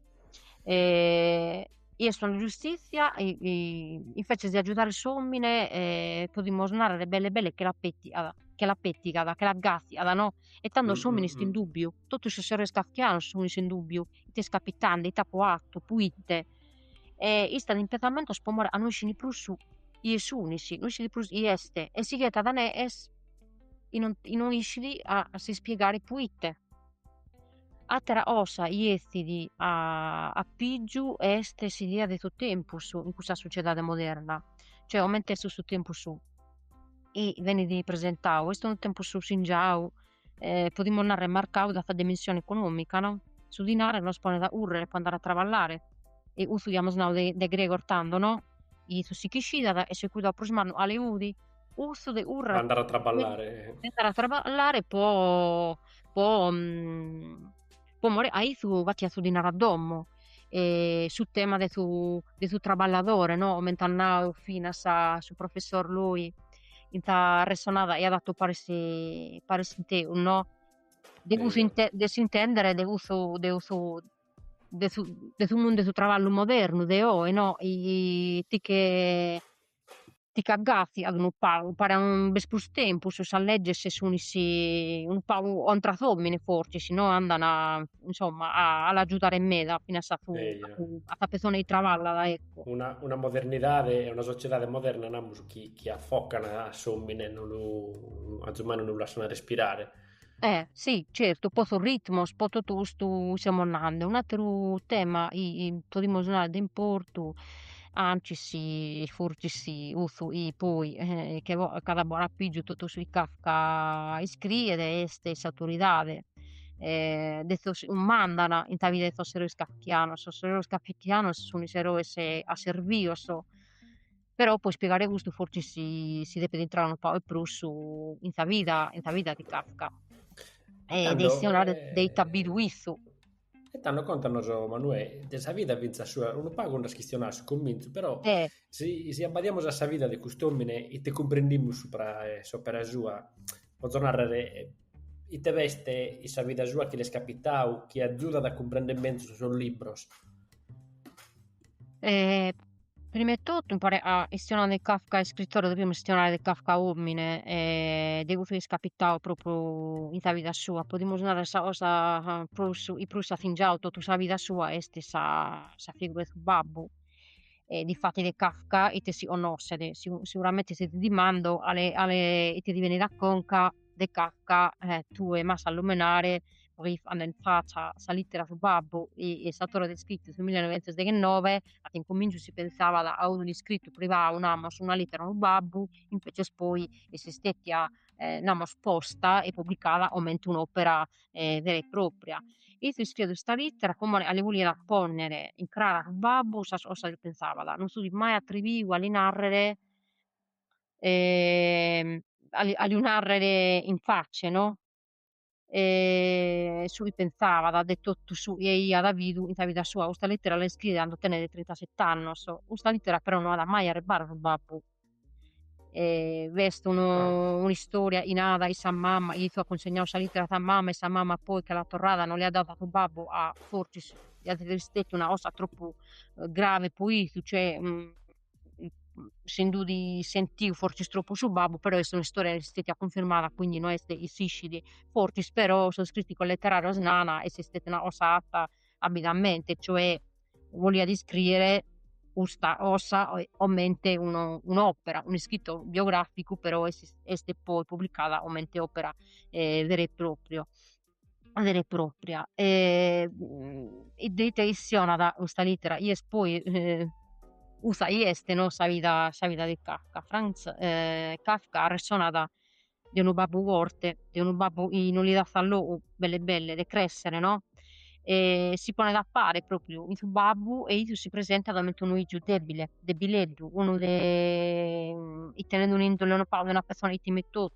S3: e est una giustizia invece de agiudare s'omine e podimos narrer belle belle che l'at pettigada che l'at pettigada che l'at gasiada no e tando s'omine est in dubbiu totu is eroes kafkianos sun in dubbiu ite est capitende ite apo fattu proite e istat in pensamentos po more 'e no isciri prus chie sunis no isciri prus chie est e si ghettat neghes in no isciri a s'ispiegare proite Atera cosa chi essit a pìgiu est s'idea de su tempus in custa sociedade moderna, cioè comente est su tempus chi benit presentadu, est unu tempus singiadu, podimos narrer marcadu dae sa dimensione econòmica no, su dinare nos ponet a currer po andare a traballare e custu iamus nadu de de Gregor tando no, chi issu si ch'ischidat e su cuidau prus mannu a 'e cudi cussu de currer andare a
S2: traballare andare a
S3: traballare po po po more chi issu battiat su dinare a domo e su tema de su de su traballadore no coment'at nadu finas su professor Loi in sa arresonada chi eiat fatu paris cun tegus no de cussu inte de s'intendere de cussu de cussu de su de su mundu 'e su traballu modernu de oe no ite che ti ch'agafiant unu pagu, paret non b'est prus tempus, sas legges sunis unu pagu contra s'omine forsis, si no andan a insomma a l'agiudare meda finas a su a sa persone chi traballat ecco. Una, una
S2: modernidade e una sociedade moderna chi namus, chi affocan a s'omine, non lu, agiumai non lu lassan respirare Eh
S3: si certu, po sos ritmos, po totu custu chi semus nande, un'ateru tema podimus narrer de importu, ancis forsis sì cussu chi poi che catzat a foras a pigiu totu su chi Kafka iscriet est s'autoridade de sos chi mandan in sa vida 'e sos eroes kafkianos, sos eroes kafkianos sun is eroes asservios però po ispiegare custu forsis si si depet intrare unu pagu 'e prus in sa vida in sa vida de Kafka
S2: e arresonare
S3: de ite at
S2: bidu
S3: issu. E tando
S2: contanos Manuè de sa vida fintzas sua, unu pagu nd'as chistionadu a su comintzu, però eh
S3: si
S2: abbadiamus a sa vida de cust'omine ite cumprendimus supra s'opera sua, potzo narrer ite b'est in sa vida sua chi l'est capitadu chi azudat a cumprender menzus sos libros?
S3: E, prima 'e totu, imparis a chistionare de Kafka iscritore, dovimus chistionare de Kafka omine e de cussu chi est capitau propriu in sa vida sua, podimus narrer sa cosa prus chi prus at singiau totu sa vida sua est sa sa figura 'e su babbu e difatis de Kafka ite si connoscet, sicuramenti si ti dimando cale cale ite ti benit a conca de Kafka, eh, tue m'as a lumenare poi faendo in faccia sa littera a su babbu est istada iscritta su millenovientosdeghenove a s'incominciu si pensabat a unu iscrittu privau namus una littera a unu babbu invecias poi est stetia namus posta e publicada comente un'opera vera e propria e ite iscriet custa littera como a li boliat ponnere in cara a su babbu sas cosas chi pensabat non si fit mai attriviu a li narrere a a lu narrere in facce no e su chi pensabat de totu su chi aiat bidu in sa vida sua, custa lettera l'est scrita cando tenet trintaset'annos, custa lettera però no at mai arribbadu a su babbu e b'est unu
S2: un'istoria chi
S3: narat chi sa mama chi issu at cunsignadu sa lettera a sa mama e sa mama poi che l'at torrada no l'hiat dada a su babbu a fortzis hiat esser istetiu una cosa tropu grave po issu cioè si nd'ut sentiu fortzis tropu su babbu, però est un'istoria chi no est stetia cunfirmada, quindi no est chi s'iscit fortzis, però sos criticos letterarios nana ca est stetia una cosa atta abilmente, cioè boliat iscriere custa ossa comente unu un'opera, un'ischittu biograficu, però est poi publicada comente opera vera e propria vera e propria e ite chistionat custa littera ies poi custa iest no sa vida sa vida de Kafka Franz Kafka arressonat de unu babbu forte de unu babbu chi non li dassat logu belle belle de cressere no e si ponet a pare propriu in su babbu e issu si presentat comente unu iju debile debileddu unu de chi tenede un'indole no pagu de una pessone chi timet totu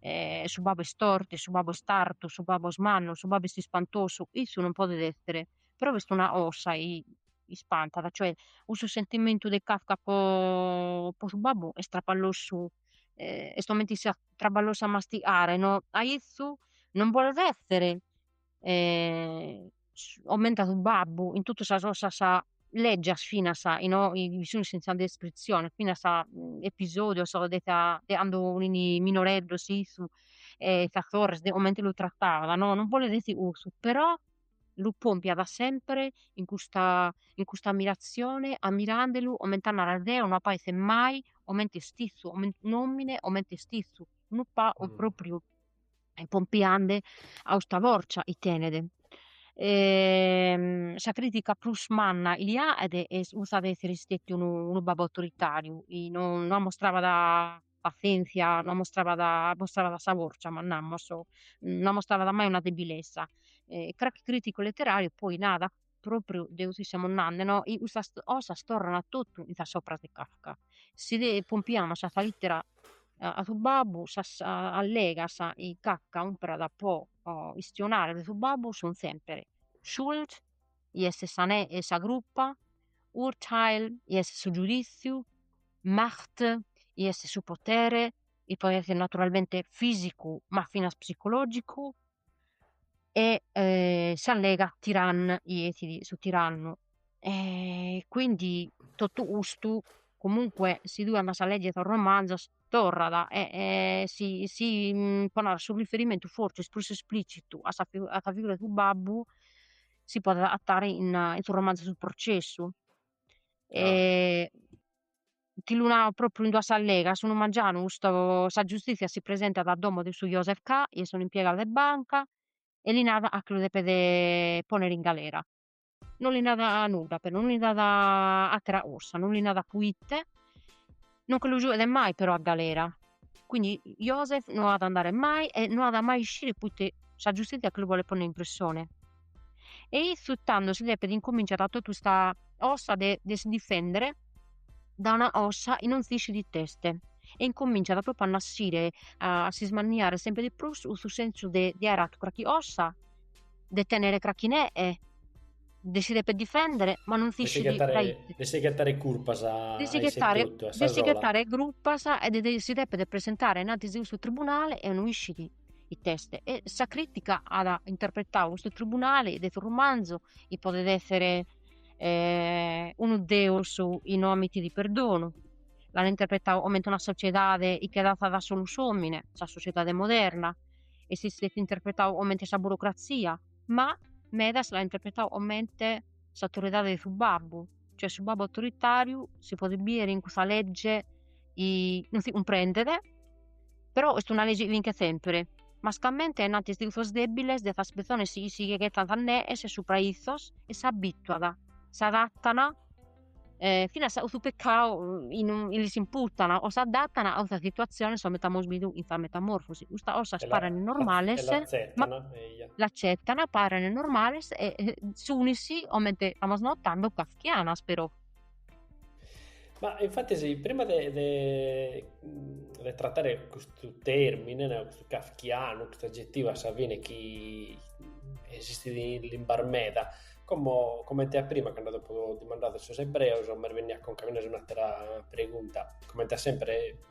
S3: E su babbu est forte, e su babbu est artu, su babbu est mannu, su babbu est ispantosu, issu non podet essere, però b'est una cosa chi ispantat, cioè cussu sentimentu de Kafka po su babbu est traballosu, est comente chi siat traballosu a mastigare no, a issu non bolet essere omente su babbu in totu sas ossas leggias finas in sa descritzione finas episodios de sa de cando fini minoreddu issu e sas sorres de comente lu trattavan no non bolet essi cussu però lu pompiat sempre in custa in custa ammirazzione ammirandelu comente a narrer deo no apo esser mai comente est issu comente un'omine comente est issu unu pagu propriu pompiande a usta forza chi tenet. sa critica prus manna chi li aet est cussa de essere istètiu unu unu babbu autoritariu, chi no no ammostrabat passienzia, no ammostrabat ammostrabat sa forza manna namus, no ammostrabat mai una debilesa e cracchi criticu letterariu poi narat propriu de cussu chi semus nande, no? I custas osas torran totu in sas opras de Kafka. Si de pompiamus a sa littera a su babbu, sas allegas chi Kafka umperat po istionare de su babbu sun sempre Schuld, chi est sa e sa cruppa, Urteil, chi est su giuditziu, Macht, chi est su potere, chi podet esser naturalmente fisicu ma finas psicologicu e eh, s'allega Tyrann chi est su tirannu e quindi totu custu comunque si tue andas a leggere sos romanzos torrat e si si pro narrer su riferimentu forsis prus esplicitu a sa figura 'e su babbu si podet agatare in su romanzu su processu ti lu nau propriu in duas allegas, unu mangianu custo sa giustitzia si presentat a domo de su Joseph K. chi est un'impiegadu de banca e li narat ca che lu depet ponner in galera, non li narat nudda però, non li narat attera cosa, non li narat proite non che lu giuet mai però a galera, quindi Joseph non at a andare mai e non at mai a iscire proite sa giustitzia che lu bolet ponner in prissone E issu tando si depet incominciat totu custa osa de de si difendere da una osa chi non s'iscit it'est e incominciat propriu a nassire a s'ismanniare sempre de prus custu sensu de de aer atu carchi osa de tenere carchi nee de si deper difendere ma non s'iscit dae ite de si ghettare curpas
S2: de si ghettare de si ghettare curpas e
S3: de si deppere presentare in antis de custu tribunale e no iscit it'est, e sa crìtica at interpretadu custu tribunale de su romanzu chi podet èssere unu deus chi no amitit perdonu, l'an interpretadu comente una sociedade chi che dassat a solu s'òmine, sa sociedade moderna, e si si est interpretadu comente sa burocratzia, ma medas l'an interpretadu comente s'autoridade de su babbu cioè su babbu autoritariu si podet bidere in custa legge chi non si cumprendet però est una legge chi vinchet sempre mascamente ainnanti 'e is tirzos debiles de sas pessones chi si che ghettant nees subra 'e issos e s'abituat s'adattan finas a su peccadu chi non lis imputan o s'adattan a custa situazione chi amus bidu in sa metamorfosi custas osas paren normales l'acetan, paren normales e sunis comente istamus notande kafkianas
S2: però. Ma infatis prima de de de trattare custu termine, custu kafkianu, custu agettivu a sa fine chi esistit in limbas meda, como comente a prima cando t'apo dimandadu sos ebreos m'est bennia a conca finas un'atera pregunta, comente a sempre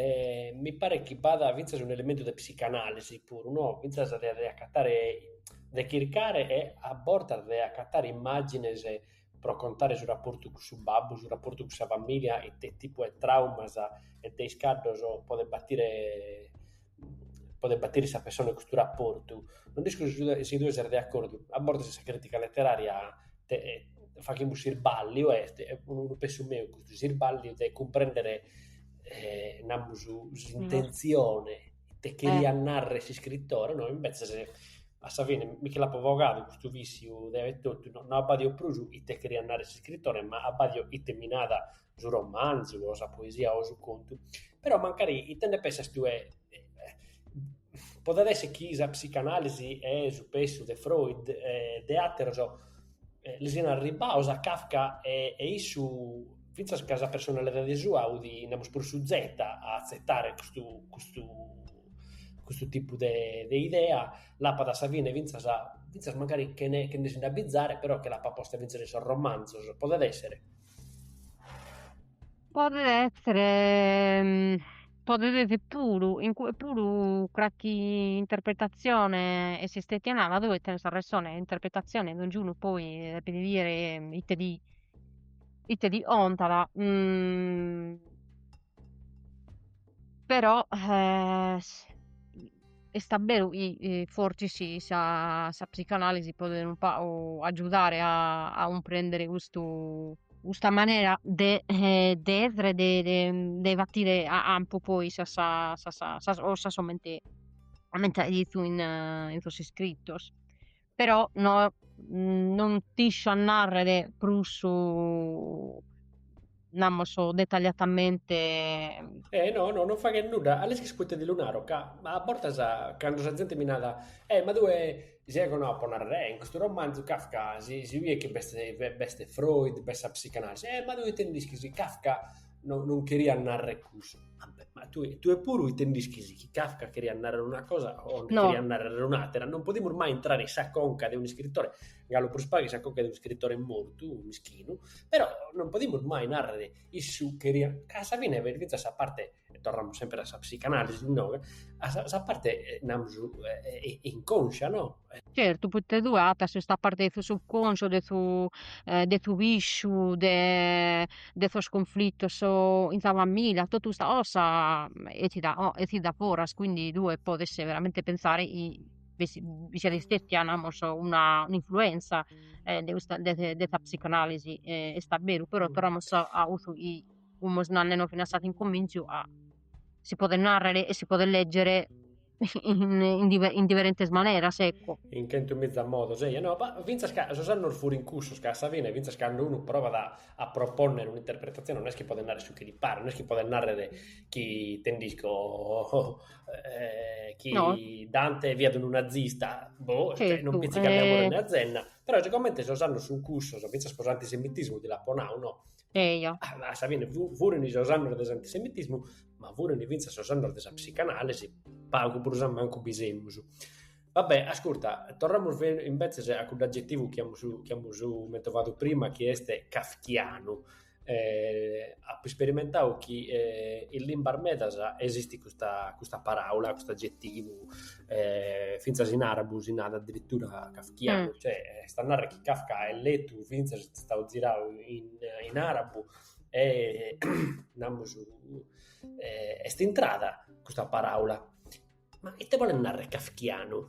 S2: E mi paret chi b'at fintzas un'elementu de psicanàlisi puru, no, fintzas de de acatare, de chircare e a bortas de acatare immàgines pro contare su raportu cun su babbu, su raportu cun sa famìlia e ite tipu 'e traumas e de iscaddos podet batire podet batire sa pessone de custu raportu, no nd'isco si sud- si tue ses de acordu, a bortas in sa crìtica leterària faghimus s'irbàlliu e est unu pensu meu custu, s'irbàlliu de cumprèndere namus s'intentzione ite cheriat narrer s'iscritore, no imbetzes a sa fine mi nche l'apo bogadu custu vìssiu de etotu, no no abbàdio prus ite cheriat narrer s'iscritore ma abbàdio ite mi nat su romanzu o sa poesia o su contu, però mancari ite nde pensas tue? Podet esser chi sa psicanalisi e su pensu de Freud e de àteros li sian arribbados a Kafka e e issu fintzas ca sa personalidade sua fut, namus, prus suzeta a atzetare custu custu custu tipu de de idea, l'apat a sa fine fintzas fintzas mancari chene chene si nde abizare, però che l'apat posta fintzas in sos romanzos, podet esser? Podet
S3: essere podet esser puru in cue puru carchi interpretatzione est istetia nada, tue tenes arressone, interpretatzione donzunu poi depit bider ite ti ite ti 'ontat Però est a beru chi fortzis sa psicanalisi podet unu pagu agiudare a cumprendere custu custa manera de de essere de batire a 'ampu poi sas sas 'osas 'omente 'omente faet issu in sos iscrittos però no non t'isco a narrer prus namus detagliatamente E no, no,
S2: non faghet nudda, a l'ischis poite ti lu naro, ca a bortas cando sa zente mi narat, E ma tue si ego naro pro narrer, e in custu romanzu Kafka si si biet chi b'est b'est Freud, b'est sa psicanalisi, e ma tue ite nd'ischis, Kafka no, non cheriat narrere cusso. Ah, ma tu, tu e puru ite nd'ischis chi Kafka cheriat narrere una cosa o nde cheriat narrere un'àtera? Non
S3: podimus
S2: mai intrare in sa conca de un'iscritore, galu prus pagu in sa conca de un'iscritore mortu, mischinu, però non podimus mai narrere issu cheriat... Ca a sa fine est fintzas sa parte, e torramus semper a sa psicanalisi inoghe, a sa, sa parte, eh, namus, eh, eh, inconscia, no? Certu, poite
S3: tue agatas custa parte de su subconscio de su de su pisciu de de sos cunflittos in sa famiglia, tottu custa cosa essit a essit a foras, quindi tue podes veramente pensare chi bi si bi siat istetia namus una un'influenza e de custa de de sa psicanalisi e est abberu, però torramus a cussu chi fimus nannende finas a s'incuminzu a si podet narrere e si podet leggere in in diferentes maneras ecco. In chentu
S2: miza modos, eia, no, ma fintzas ca sos annos furint cussos, ca a sa fine fintzas cando unu provat a a propònnere un'interpretatzione non est chi podet narrer su chi li paret, non est chi podet narrer chi ite
S3: nd'isco, chi no.
S2: Dante fiat unu nazista, boh, cioè, non pitzi chi andamus a donne azenna, però sigomente sos annos sun cussos, fintzas pro s'antisemitismu ti l'apo nadu, no? Eja. Ah, ma a
S3: sa fine
S2: fu- furin sos annos de s'antisemitismu, ma furin fintzas sos annos de sa psicanalisi, pagu prus a mancu bi semus. Va bè, ascurta, torramus fe- imbetzes a cudd'agetivu chi amus chi amus mentovadu prima chi est kafkianu. E apo isperimentadu chi e in limbas medas esistit custa custa paraula, cust'agetivu e fintzas in arabu si narat addirittura kafkianu Tiagu, cioè, est a narrer
S3: chi
S2: Kafka est letu fintzas est istadu tziradu in in arabu e namus est intrada custa paraula, ma ite bolet narrer kafkianu?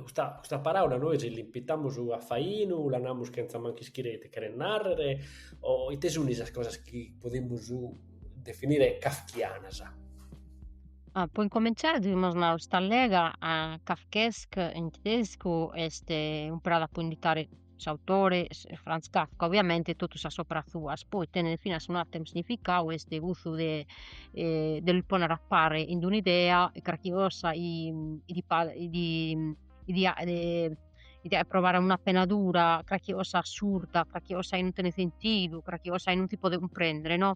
S2: Custa custa paraula nois l'impitamus a fainu, la namus chentza mancu ischire ite cheret narrer o ite sun sas cosas chi podimus definire kafkianas?
S3: Ah, po incominciare devimus narrer custa allega Kafkaesk in tedescu est impreada po indicare s'autore Franz Kafka, obviamente totu sas operas suas, poi tenet finas un'ateru significadu est cussu de de lu poner a pare in d'un'idea e carchi cosa de provare una pena dura, carchi cosa assurda, carchi cosa chi non tenet sentidu, carchi cosa chi non si podet cumprendere no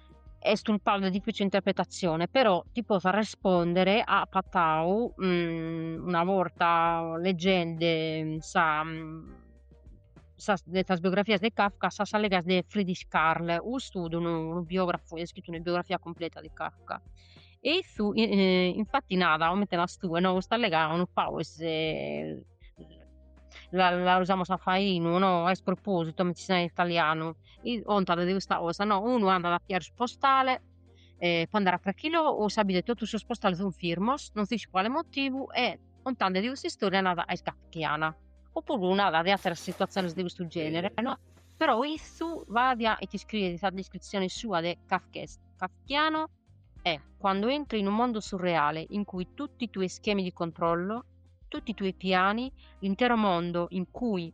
S3: est unu pagu de dificile interpretatzione però ti potzu arrespondere apo agatau una borta leggende sa sas de sas biografias de Kafka sas allegas de Frederick Karl custu fut unu biografu iat iscrittu una biografia cumpleta de Kafka e issu infatti nada comente naras tue no custa allega unu pagu est la la usamus a fainu no a spropositu comente si narat in italianu contat de custa cosa, no, unu andat a pigare su postale e po andare a carchi logu, unu s'abbidet totu sos postales sun firmos, non s'ischit po cale motivu e contende de custa istoria narat est kafkiana, oppuru narat de atteras situatziones de custu genere no, però issu fadia e iscriet sa descritzione sua de Kafkaesk, Kafkiano è quando entri in un mondo surreale in cui tutti i tuoi schemi di controllo, tutti i tuoi piani, l'intero mondo in cui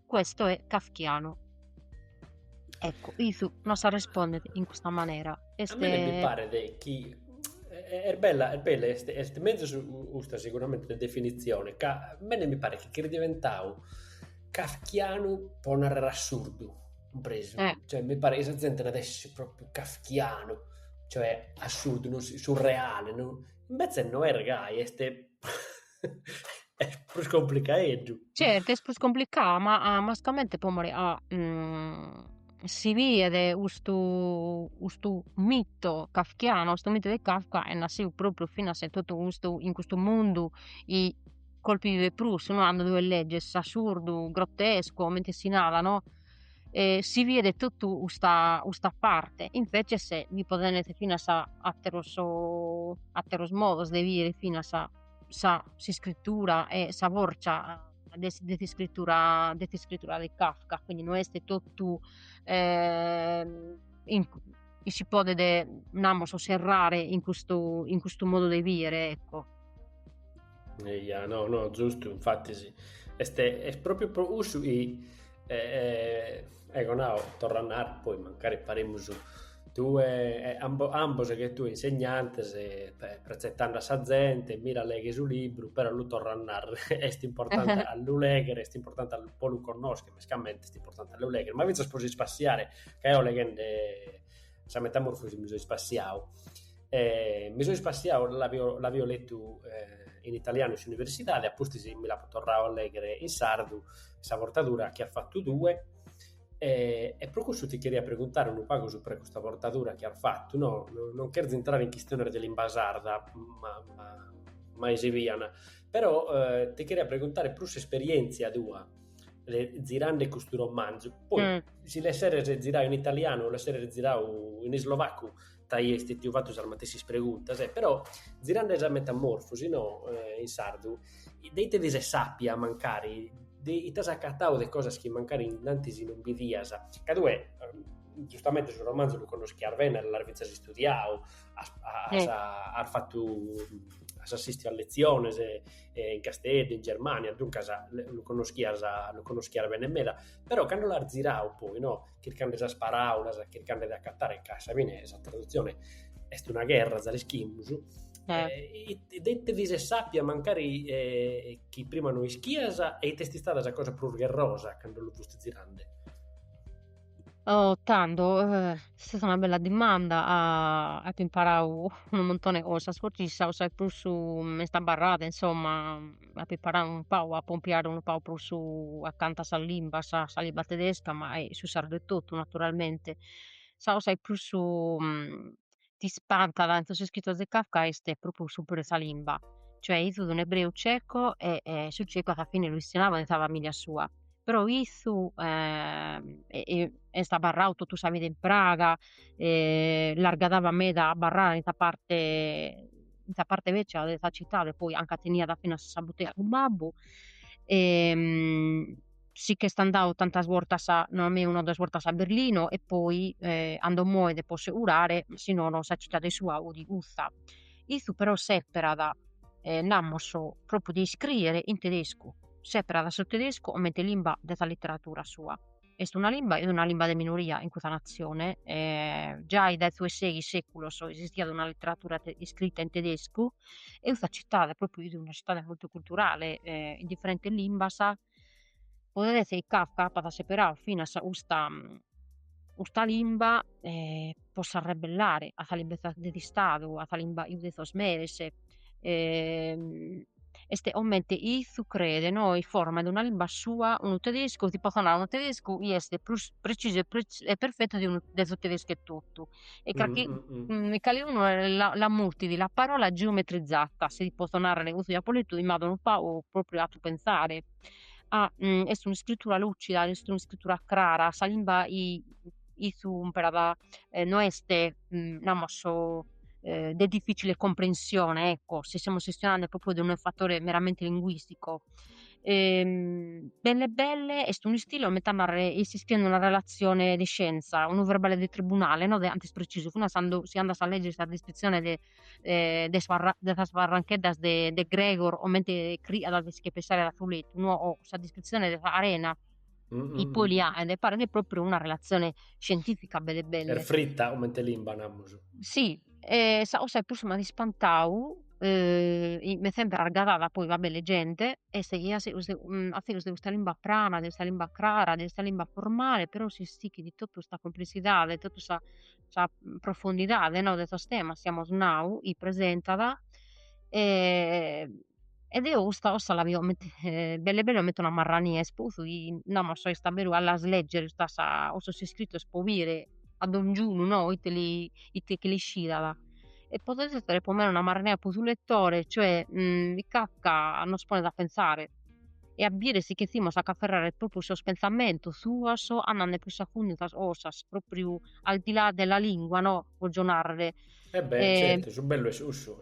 S3: Questo è kafkianu. Ecco, Isu non s'arrespondet in custa manera. Est... A mene
S2: mi paret chi est bella, est bella, est, est mezus custa seguramente de definitzione, ca mene mi paret chi est diventau kafkianu pro narrer assurdu, cumpresu? Eh. Cioè, mi paret chi sa zente nat est propriu kafkianu, cioè assurdu, non so, surreale, non... Invece no est gai, est... Est prus complicaeddu. Certu, est
S3: prus complicau, ma mascamente po more si biet custu custu mito kafkianu, custu mito de Kafka est nassiu propriu finas in totu custu in custu mundu 'e colpi bidet prus no, andu tue legges s'assurdu, grottescu, comente si narat no, si biet totu custa custa parte, invece si podent bider finas atteros atteros modos de bider finas s'iscritura e sa forza de, de s'iscritura de s'iscritura de Kafka, quindi no est totu eh, in, si podet namus serrare in custu, in custu modu de bidere, ecco. Eia, no,
S2: no, giustu, infatti sì, est proprio pro cussu chi E, e, eco no, torro a narrer, poi mancari paremus tue, e, ambo, ambos che tue insegnantes, pretzettande a sa zente, mira leghe su libru, però lu torro a narrer, est importante a lu legher, est importante po lu connoscher, mescamente est importante a lu legher, ma fintzas po si spassiare, ca eo leghende sa metamorfosi mi so ispassiau, E mi so ispassiau, l'aio letu in italianu in s'universidade, a pustis mi l'apo torrau a lèghere in sardu, sa portadura chi as fatu tue, e e pro cussu ti cheria preguntare unu pagu subra custa portadura chi as fatu no, non cherzo intrare in chistiones de limba sarda, ma ma mai si pian, però ti cheria preguntare prus s'esperièntzia tua de zirande custu romanzu, poi si l'esseres zirau in italianu o l'esseres zirau in islovacu T'aia istètiu fatu sas matessis preguntas, e però zirande sa metamorfosi, no, in sardu, de ite ti ses sàpia mancari, de ite as acatau de cosas chi mancari in antis non bidias. Ca tue, giustamente, su romanzu lu connoschias bene, l'as fintzas istudiau, as as as fatu, as assistiu a letziones in Casteddu, in Germània, duncas lu connoschias lu connoschias bene meda, però cando l'as zirau poi no chircande sas paràulas, chircande de acatare, ca a sa fine sa tradutzione est una gherra, za l'ischimus, eh. e de ite ti ses sàpia mancari eh, chi prima no ischias, e ite est istada sa cosa prus gherrosa cando lu fusti zirande?
S3: Oh, tando, eh, est una bella dimanda, ah, apo imparau unu muntone 'e cosas, fortzis sa cosa chi prus m'est abarrada, insomma, a preparare unu pagu, a pompiare unu pagu prus acanta a sa limba, a sa limba tedesca, ma a su sardu etotu naturalmente, sa cosa chi prus t'ispantat in sos iscritos de Kafka est propriu s'umperu 'e sa limba, cioè issu fut un'ebreu ceco e e su ceco a sa fine lu istionaiant in sa familia sua, però issu est abarradu totu sa vida in Praga, e l'argadabat meda a abarrare in sa parte in sa parte vècia de sa citade, poi anca teniat finas sa butea su babbu e si ch'est andadu tantas bortas a, no a mei, una o duas bortas a Berlino e poi 'ando moiat po si curare, si nono sa citade sua fut custa, issu però seperat namus propriu de iscriere in tedescu, seperat su tedescu comente limba de sa literadura sua est una limba est una limba de minoria in custa natzione e giai dae su 'e seghi seculos esistiat una letteratura iscrita in tedescu e custa cittade propriu fit una cittade multiculturale in differentes limbas podet esser chi Kafka apat seperadu finas custa custa limba e po s'arrebellare a sa limba de s'Istadu, a sa limba iu de sos meres, est comente issu creet no in forma de una limba sua unu tedescu ti potzo narrer unu tedescu chi est prus precisu e perfetu de unu de su tedescu etotu e carchi e caliunu l'at mutidu la parola geometrizata si potzo narrer custu chi apo letu m'at unu pagu propriu 'atu pensare a est un'iscritura lucida est un'iscritura crara sa limba issu umperat no est namus de difficile comprensione ecco, si semus chistionende propriu de unu fatore meramente linguistico belle belle est un'istile comente a narrer iscriende una relazione de scienza, unu verbale de tribunale no de 'antu est precisu finas a si andas a legger sa descritzione de de sas barrancheddas de Gregor comente criat de si che pesare dae su lettu no o sa descritzione de sa 'arena Mm-mm. I poli a, ed è paret propriu una relazione scientifica belle belle. Peri fritta, comente limba, namus. Sì, e
S2: sa
S3: 'ossa 'i prus
S2: m'at
S3: ispantau, eh, 'i m'est sempre argadada poi, vabbè, leggende, est 'i a seus de, mm, a seus de custa limba prana, de custa limba crara, de custa limba formale, però s'istichit totu sta complessidade, totu sa, sa profondidade, no, de sos temas, 'i amus nau, 'i presentat, e... e deo custa 'ossa la bio comente belle belle comente una marrania est po 'ussu chi nd'amus a soi sta a beru a las legger custas custos iscrittos pro bire a dongiunu no ite li ite che l'iscidat e podet essere pro mene una marrania pro su lettore cioè Kafka nos ponet a pensare e a bire si chetzimus a ch'afferrare propriu sos pentzamentos suos andende pius a fundu in sas 'ossas propriu al di là della lingua no apo narrer. E beh
S2: certu su bellu est
S3: cussu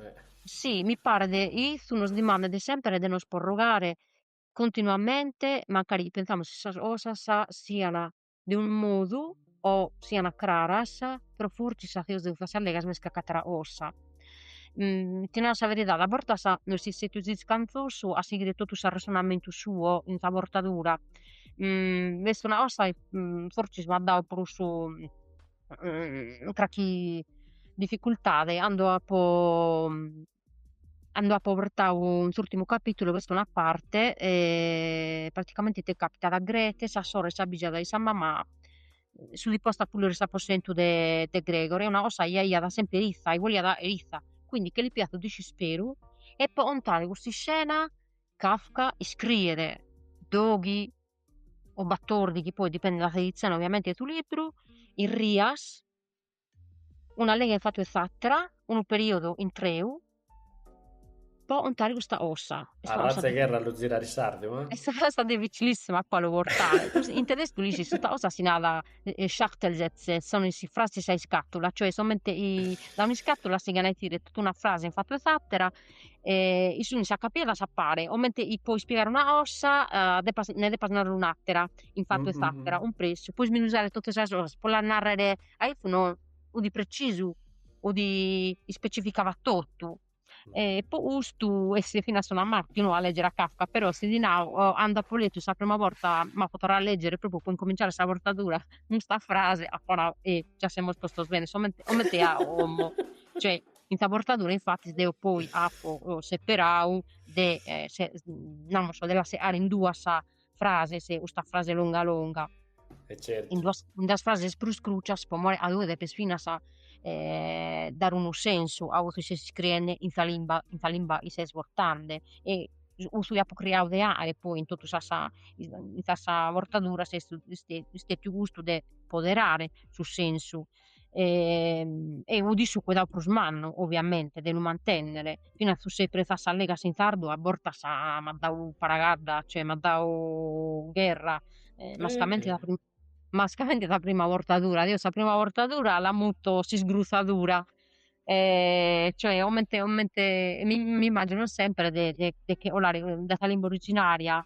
S2: Si,
S3: mi paret issu nos dimandet semper de nos porrogare continuamente mancari pentzamus chi sas cosas sian de unu modu o sian craras, però fortzis sa de sos legas m'est carc'atera cosa. ti naro sa veridade a bortas no est istettu discansosu a sighire totu s'arressonamentu suo in sa bortadura, est una cosa chi fortzis m'at dadu prus mm, carchi dificultade cando apo cando apo bortau in s'urtimu capitulu b'est una parte e praticamente ite capitat, Grete, sa sorre s'abbijat chi sa mama s'udi posta a pulire s'aposentu de de Gregor e una cosa chi aiat semper issa, chi boliat aer issa, quindi che li pigat su disisperu e po contare custa iscena Kafka iscriet doghi o batordi chi poi dipendit dae s'edizione ovviamente 'e su libru, is rias, un'allega in fatu 'e s'atera, unu periodu intreu, po ontare custa ossa. A razza 'e gherra a lu zirare in
S2: sardu, eh? Est una
S3: cosa dificilissima po lu bortare. In tedescu lis is custa ossa si narat Schachtelsätze, sono is frases a iscatula, cioè somente dae un'iscatula si ghen'aitire tottu una frase in fatu 'e s'atera e sunt acapiadas a pare, comente chi po ispigare una cosa eh, depas, ne depas narrer un'attera, in fattu 'e s'attera, un pressu, po isminuzare totte sas cosas, po las narrer a iffu no, udi precisu, udi ispecificava tottu, e po custu est finas una marca unu a legger a Kafka, però si ti nau cando apo lettu sa prima borta m'apo torrau a legger propriu po incominciare sa bortadura custa frase apo nau, eh già semus postos bene, comente comente a como cioè In sa bortadura infatis deo poi apo seperadu de namus de la segare in duas frases custa frase longa longa, in
S2: duas in duas frases
S3: prus crucias pro more ca tue depis finas dare unu sensu a cussu chi ses iscriende in sa limba in sa limba chi ses bortende e cussu chi apo cricadu de aer poi in totu sas in sas bortaduras est est est stetiu custu de poderare su sensu e udi su cuidau prus mannu, oviamente, de lu mantènnere, finas su sèperu 'e sas allegas in sardu a bortas m'at dadu paragadda, cioè m'at dadu gherra e mascamente sa prima mascamente sa prima bortadura, deo sa prima bortadura la muto s'isgrutzadura e cioè comente comente mi immagino sempre de de de 'olare dae sa limba originaria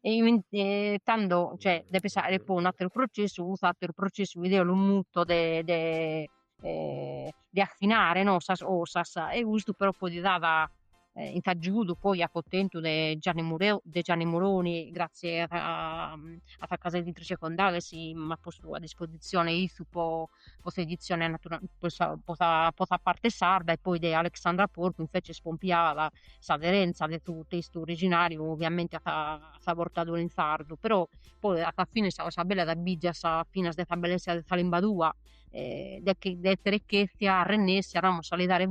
S3: e tando cioè, depes fagher poi un'atteru processo, custu atteru processo mi deo lu muto de, de eh, de affinare no sas osas e custu però poi ti dat eh, in s'aggiudu poi apo tentu de Gianni, Mureo, de Gianni Muroni grazie a, a sa casa editrice Condaghes chi m'at postu a disposizione issu po po s'editzione natura po sa po sa po sa parte sarda e poi de Alexandra Porcu inveces pompiada s'aderenza de su testu originariu ovviamente a sa sa portadura in sardu però poi a sa fine sa cosa bella t'abbìgias finas de sa bellesa de sa limba tua de de essere chestia arrennessia namus a li dare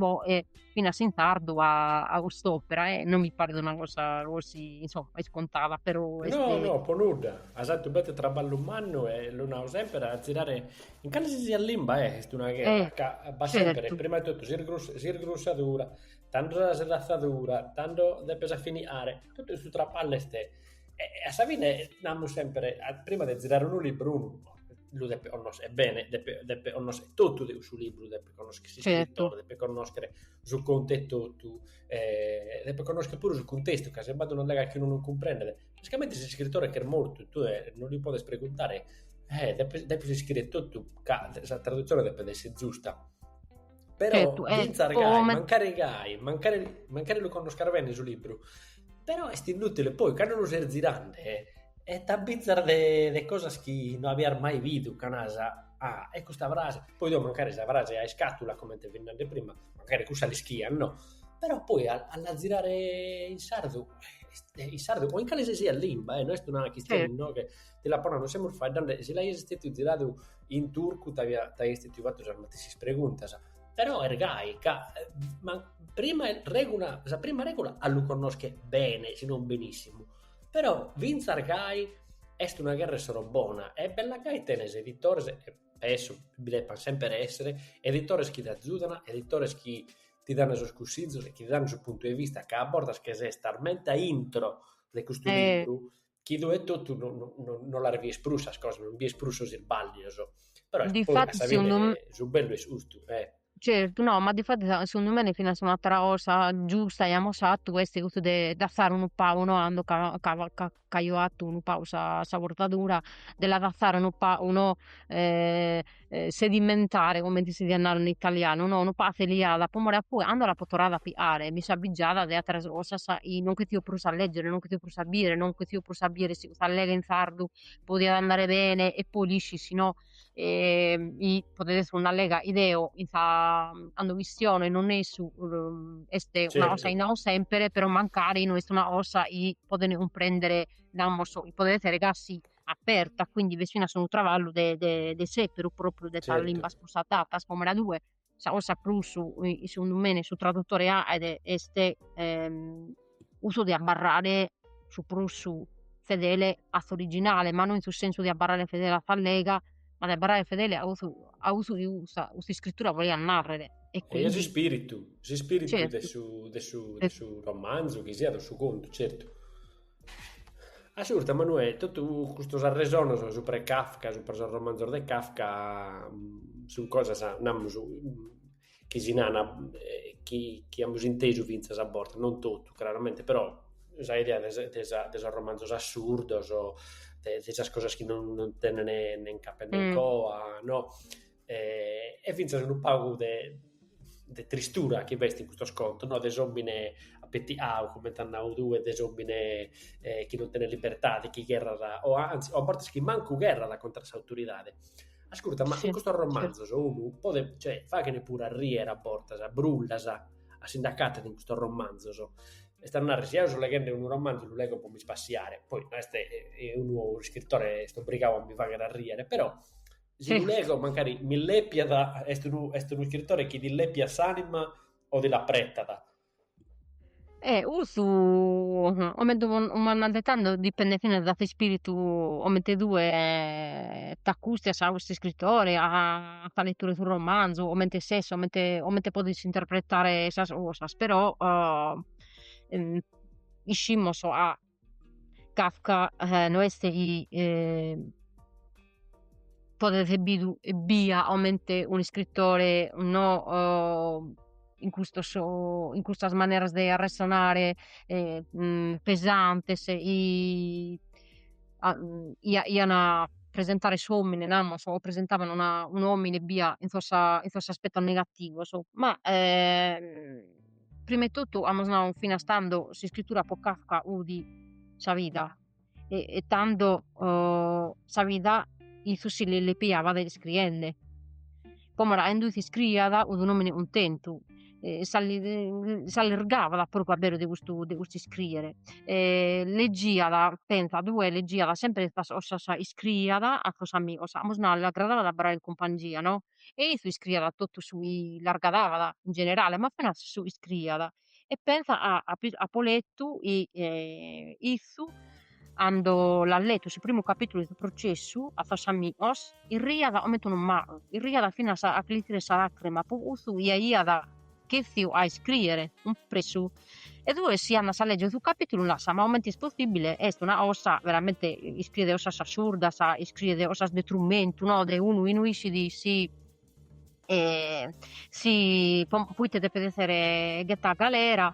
S3: finas in sardu a, a cust'opera e non mi paret una cosa così, insomma, iscontada, però... Est... No, no, po nudda.
S2: As fatu bete traballu mannu e lu nau sempre a zirare in calesisiat limba eh, est una gherra, eh, ca b'at certo. sempre, prima de totu, s'irgrussadura, tando sa sedatzadura, tando depes a finiare, totu su traballu est E a sa fine namus sempre, prima de zirare unu libru, unu lu depet connoschere, e bene, depet depet connoschere totu de cussu libru, depet connoschere s'iscritore, depet connoschere su contu etotu, e depet connoschere puru su cuntestu, ca si b'at una lega chi unu non cumprendet, e comente s'iscritore ch'est mortu e tue non li podes preguntare, e depis depis ischire totu ca sa traduzione depet esser giusta Però, Certu, eh, fintzas po
S3: gai, omen- mancari
S2: gai, mancari, mancari lu connoscas bene su libru, però est inutile, poi cando lu ses zirende e e t'abbizas de de cosas chi no abias mai bidu, ca naras, ah, e custa frase, poi tue mancari sa frase a iscàtula, comente fit nande prima, mancari cussa l'ischias, no, però poi a a la zirare in sardu, est in sardu o in calesisiat limba, eh, no est una chistione, Certu no, che Ti
S3: l'apo
S2: nadu semus faeddende e si l'aias istetiu ziradu in turcu t'aia istetiu fatu sas matessis preguntas. Però est gai ca ma prima regula sa prima regula a lu connosche bene si non benissimu. Però finzas gai est una gherra e s'ora bona e bella gai tenes editores e penso bi deppant semper esser editores chi t'azudan, editores chi ti dan sos cussizos e chi ti dan su puntu 'e vista ca a bortas che ses talmente a intro de custu libru
S3: chi
S2: tue etotu no no no no las bides prus sas cosas, non bides prus sos isballios, però est poi a sa fine su
S3: bellu est custu
S2: e. Certu, no,
S3: ma difatis segundu mene finas un'atera cosa giusta chi amus fatu est custu de dassare unu pagu no cando ca ca ca ca aio fatu unu pagu sa sa portadura de la dassare unu pagu no sedimentare comente si diat narrer in italianu no unu pagu feliada po more ca poi cando l'apo torrada a pighare mi so abbigiada de atteras cosas chi non ch'essio prus a leggere non ch'essio prus a bider non ch'essio prus a bider si custa lega in sardu podiat andare bene e poi l'ischis no chi podet esser una lega chi deo in sa cando chistiono e non essu est una cosa chi nau sempre però mancari no est una cosa chi podent cumprender namos chi podet esser ca si aperta, quindi b'est finas unu traballu de, de, de seperu propriu de certo. sas limbas prus adatas, comente naras tue, sa cosa prus, segundu mene, su traduttore aet est ehm, custu de abbarrare su prus fedele a s'originale, ma no in su sensu de abbarrare fedele a s'allega, ma de abbarrare fedele a cussu, a cussu chi custa, custa iscritura volaiat narrere. E, quindi... e a s'ispiritu, s'ispiritu
S2: certo. de, su, de, su,
S3: de su
S2: romanzu, chi siat, o su contu, certu. Ascurta, Manuè, totu custos arresonos supra 'e Kafka, supra sos romanzos de Kafka, sun cosas, namus, chi si nana e chi chi amus intesu fintzas a bortas, non totu craramente, però sa idea de sa de sa de sos romanzos assurdos, de de sas cosas chi non non tenen nen capu nen coa no e, e fintzas unu pagu de, de tristura chi b'est in custos contos, no? de s'òmine apetiadu, comente as nau tue, de s'òmine eh, chi non tenet libertade, chi gherrat, o anzi, o a bortas chi mancu gherrat contra s'autoridade. Ascurta, ma sì, in custos romanzos sì.
S3: unu
S2: podet, cioè, faghen puru a rier a bortas, a brullas, a si nd'acatat in custos romanzos. Est a narrer, si eo so leghende unu romanzu, lu legho po mi spassiare, poi no est eh, unu iscritore est obrigadu a mi fagher a rier, però Si lu lego, mancari m'illèpiat, est unu, est unu iscritore chi t'illèpiat s'ànima o ti l'apretat. E
S3: custu comente m'andat tando dipendet finas dae s'ispiritu comente tue t'accustias a custu iscritore a sa lettura 'e su romanzu comente ses comente comente podis interpretare sas cosas però iscimus ca Kafka no est chi podet esser bidu ebbia comente un'iscritore no in custos in custas maneras de arressonare pesantes chi ian a presentare s'omine namus o presentavan una un'omine ebbia in sos in sos aspetos negativos ma Prima 'e totu amus nau finas tando s'iscritura pro Kafka fut sa vida e tando sa vida issu si l'illepiavat iscriende, como at nde iscriat un'omine cuntentu e s'allergavat propriu a beru de custu de custu iscriere e leggiat pensa tue leggiat sempre sas cosas chi iscriiat a sos amigos, amus nau l'agradavat a abbarrare in cumpangia no e issu iscriiat totu su chi l'agradavat in generale, ma finas su chi iscriiat e pensa ca apo letu chi issu cando l'at letu su primu capitulu 'e su processu a sos amigos irriat comente unu macu, irriat finas a chi li tiret sa lacrima po cussu chi aiat cherfiu a iscrìere cumpressu e tue si andas a lègere su capìtulu naras ma comente est possìbile est una cosa veramente iscriet cosas assurdas iscriet cosas de trumentu no de unu chi no iscit si si pro ite depet èssere ghetadu a galera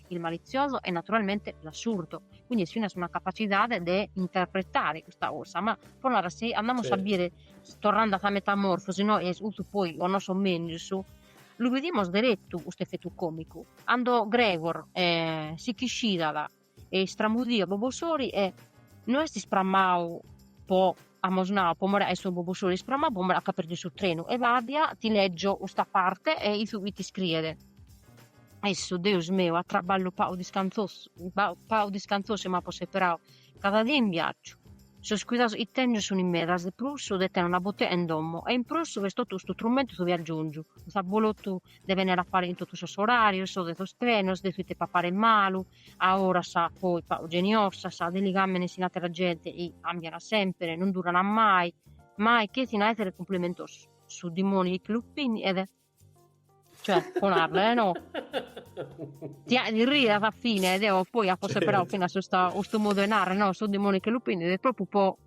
S3: il malizioso e naturalmente l'assurdo, quindi est finas una capacitade de interpretare custa cosa, ma pro narrer si andamus a bire torrando a sa metamorfosi no e cussu poi o non so mengius lu bidimus derettu custu effettu comicu cando Gregor eh, si ch'ischidat e istramudia bobosori e no est isprammau po Amus nau po more 'e su bobosori isprammau po more ca at perdiu su trenu ebbia ti leggio custa parte e ite iscriet issu deus meu a traballu pau discanthosu m'apo seperau cada dì in viaggiu sos cuidados chi tengiu sun in medas de prus de tenere una botea in domo e in prus che totu custu trumentu su viaggiongiu s'abolotu de benner a pare in totu sos orarios de sos trenos de su ite papare malu A oras poi pagu geniosas, de ligàmenes chin àtera gente chi càmbiana sèmpere, non durana mai, mai che sighin a èssere cumplimentosu, su dimoni chi lu pinniet, cioè po narrer e no, ti ti riet a sa fine, deo poi apo seberadu finas custa custu modu 'e narrer no, su dimoni chi lu pinniet, propriu po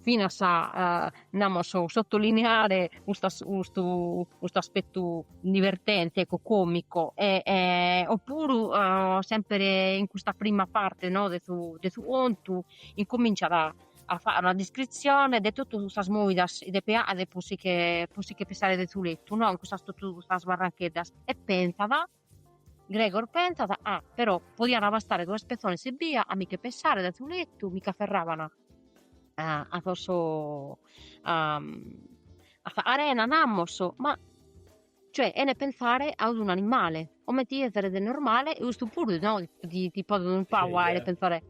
S3: finas a namus sottolineare custa custu custu aspettu divertente ecco comico e, e oppuru uh, semper in custa prima parte no, de, su, de su contu incominciat a, a fare una descrizione de totu custas movidas chi depet aer po si che, po si che pesare de su lettu no, in custas totu custas barrancheddas e pensat Gregor pentzat, ah, però, podiant abastare duas pessones ebbia a mi che pesare dae su lettu, mi ch'aferraban a sos arena namos, ma cioè 'ene pensare a un'animale, comente chi esseret normale e custu puru no ti ti ti podet unu pagu aer pensare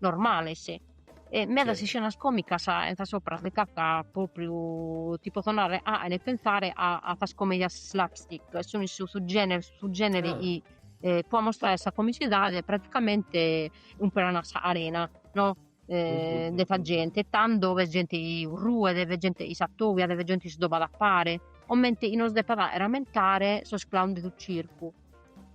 S3: normales e medas iscenas comicas in sas òperas de Kafka propriu ti potzo narrer aene pensare a a sas comedias slapstick e sun issu su genere su genere chi po ammostrare sa comicidade praticamente umperan sa carena no de sa gente tando est gente chi ruet est gente chi s'attobiat est gente chi si dobat a pare comente chi nos depat aer ammentare sos clown de su circu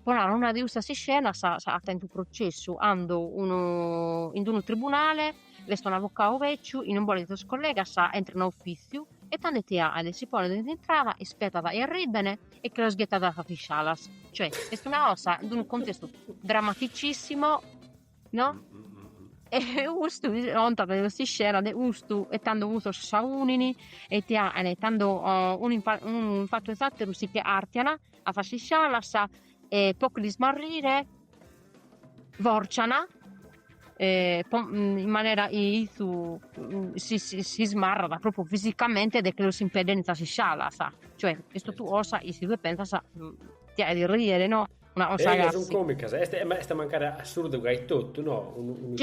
S3: Po narrer una de custas iscenas s'agatat in su Processu, cando unu in unu tribunale, est unu avocadu veciu chi non bolet sos collegas e intrat in ofìtziu e tando ite aet, si ponet in intrada, ispetat chi arrìbene e che los ghetat a sas iscalas, cioè est una cosa in unu contestu drammaticissimo no e custu contat de custa iscena de custu e tando cussos s'aunin e ite aen e tando unu in fattu 'e s'atteru si che artian A sas iscialas e po che l'ismarrire forcian in manera chi si ismarrat propriu fisicamente de chi los impedent in sas iscialas, cioè est totu cosa chi si tue pensas ti aghet rìere no sun comicas
S2: est est mancari assurdu gai etotu no unu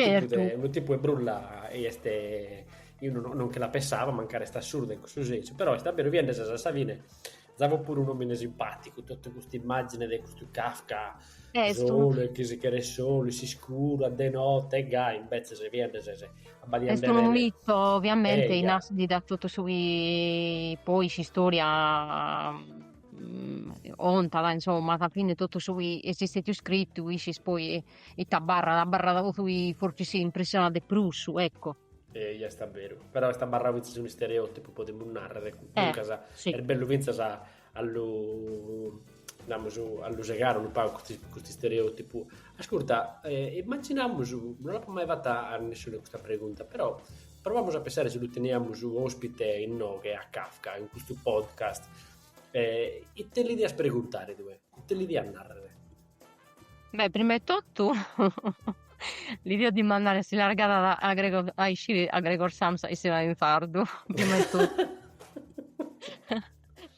S2: unu tipu 'e brulla est eo non che la pensavo mancari est assurda in cussu sensu però est abberu chi 'endas a sa fine Zavo puru un'omine simpaticu, totu custa immagine de custu Kafka eh, solu e chi si cheret solu, s'iscuru, a de notte, e gai, imbetze ses biende ses abbadiende. Est unu
S3: mito, ovviamente, in as ndi dat totu su chi poi s'istória contat, insomma, a sa fine totu su chi est stetiu scritu, iscis poi ita abarrat, abarrat totu chi fortzis impressionat de prus, ecco. Eia est a
S2: beru. Però est abarrau fintzas unu istereotipu, podimus narrer, duncas eh, sì. est bellu
S3: fintzas
S2: a, a lu namus a lu segare unu pagu custu istereotipu. Ascurta, eh, immaginamus, non l'apo mai fatta a nesciune custa pregunta, però provamus a pensare si lu teniamus ospite inoghe a Kafka in custu podcast. Eh, ite li dias preguntare tue? Ite li dias narrer?
S3: Beh prima 'e totu li deio dimandare si l'argadat a a Gregor a iscire a Gregor Samsa a issere in sardu prima 'e totu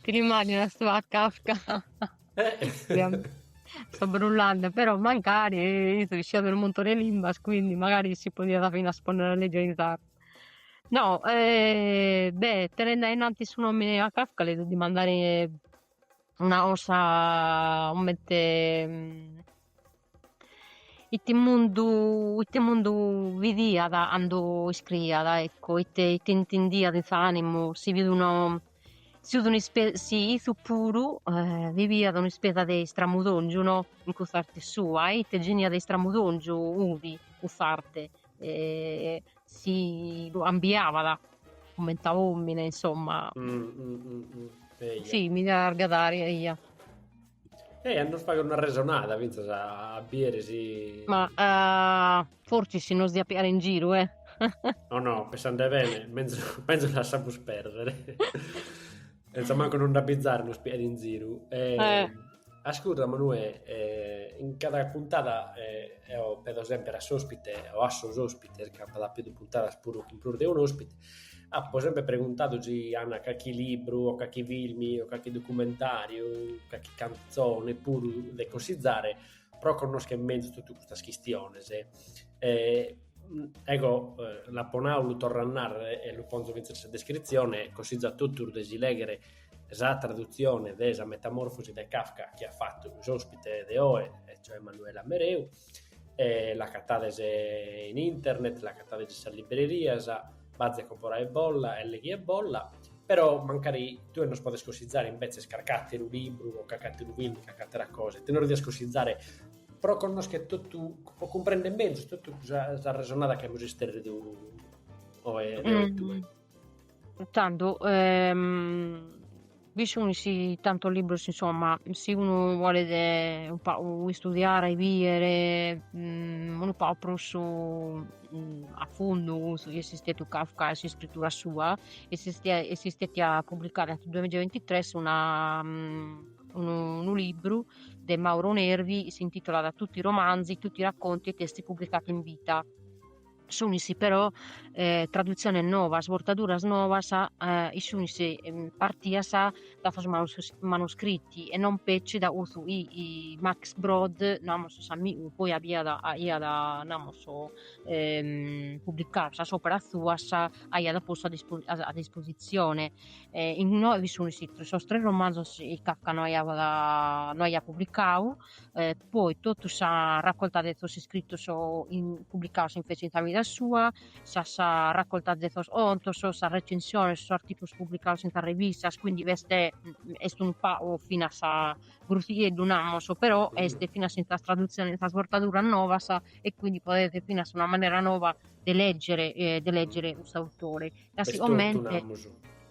S3: ti l'immaginas a su a Kafka so brullende però mancari isse isciat unu muntone 'e limbas quindi magari si podiat finas ponnere a leggere in sardu no beh tenende a innantis su nomene 'e Kafka li deio dimandare una cosa comente ite mundu ite mundu bidiat cando iscriiat ecco ite ite intendiat in s'animu si fit unu si fit un'ispesa si issu puru biviat un'ispesa de istramudongiu no in cuss'arte sua e ite genia de istramudongiu udi cuss'arte si lu ambiabat comente a omine insomma si mi diat argadare
S2: eia a nos fagher una resonada finzas a bider si
S3: ma forsis si nos diat piare in giru e no no
S2: pensande bene menzus lassamus perdere Senza manco nos nd'abbizare nos piet in ziru. Eh, eh. Ascurta Manuè, eh, in cada puntada eh, eo pedo sempre a s'ospite o a sos ospites, ca apo apidu puntadas puru cun prus de un'ospite, apo sempre preguntadu si an calchi libru o calchi filmi o calchi documentàriu, calchi cantzone puru de consizzare, pro connoschere mezus totu custas chistiones. Ecco, l'apo nau, lu torro a narrer e lu ponzo fintzas in sa descritzione, cossizu a totus de si lèghere sa tradutzione de sa Metamorfosi de Kafka chi at fatu s'òspite de oe, e cioè Manuela Mereu, e l'acatades in internet, l'acatades in sas librerias Baze comporaebolla e leghiebolla, però mancari tue nos podes cossizare imbetzes carc'àteru libru o carc'àteru filmu, carc'àtera cosa, ite nos dias cossizare pro connoschere totu, pro cumprender mezus totu sa arresonada chi amus isterridu oe
S3: deo e tue. Tando, Bi sunis tantos libros insomma, si unu bolet unu pagu istudiare e bider unu pagu prus a fundu cussu chi est istetiu Kafka e s'iscritura sua, est istetia pubblicada in su duamiza e bintitres una unu libru de Mauro Nervi, s'intitolat Tutti i romanzi, tutti i racconti e testi pubblicati in vita sunis però tradutziones novas, bortaduras novas, chi sunis partidas da sos manuscritti e non petzi da cussu chi Max Brod, namus s'amigu, poi aiat aiat namus publicadu sas operas suas, aiat postu a a dispositzione e inoghe bi sunis sos tres romanzos chi Kafka no aiat no aiat publicadu poi totu sa racolta de sos iscritos publicados invece in sa vida sua, sas racoltas de sos contos, sas recensiones, sos articulos publicados in sas revistas, quindi est est unu pagu finas grussieddu namus, però est finas in sas tradutziones, in sas bortaduras novas e quindi podet finas una manera nova de lègere de lègere cuss'autore ca siguramente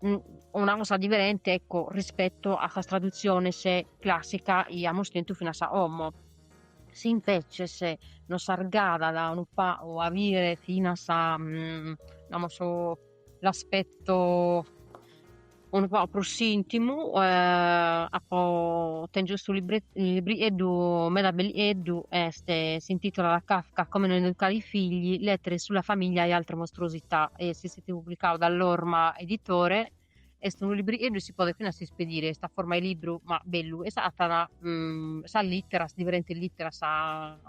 S3: una cosa diferente ecco, rispetto a sas tradutziones classicas chi amos tentu finas a como si inveces nos argadat unu pagu a bire finas a mm, namos l'aspetto unu pagu prus intimu eh, apo tengio custu librieddu meda bellieddu est s'intitolat Kafka come non educare i figli lettere sulla famiglia e altre mostruosità e si est publicadu dae L'orma Editore, est unu librieddu e si podet finas ispedire, est a forma 'e libru ma bellu e s'agatat sas literas, diferentes literas,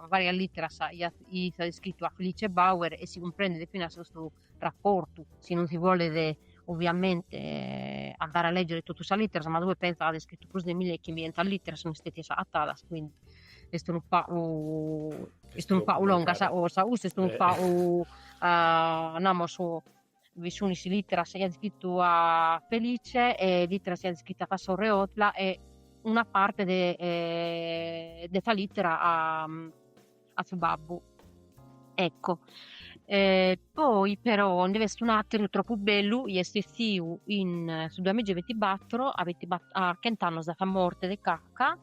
S3: varias literas chi at iscritu a Felice Bauer e si cumprendet finas custu rapportu, si non si bolet ovviamente andare a leggere totu sas literas ma tue pensa chi at iscritu prus de mille e chimbientas literas, nde sunt istetidas agatadas quindi est unu pagu est unu pagu longa sa cosa, custu est unu pagu namus bi sun is literas chi at scritu a Felice e literas chi at scritu a sa sorre Ottla e una parte de de sa litera a a su babbu, ecco poi però nde b'est un'ateru tropu bellu, chi est essiu in su duamigi e bintibaturu a bintiba a chent'annus de sa morte de Kafka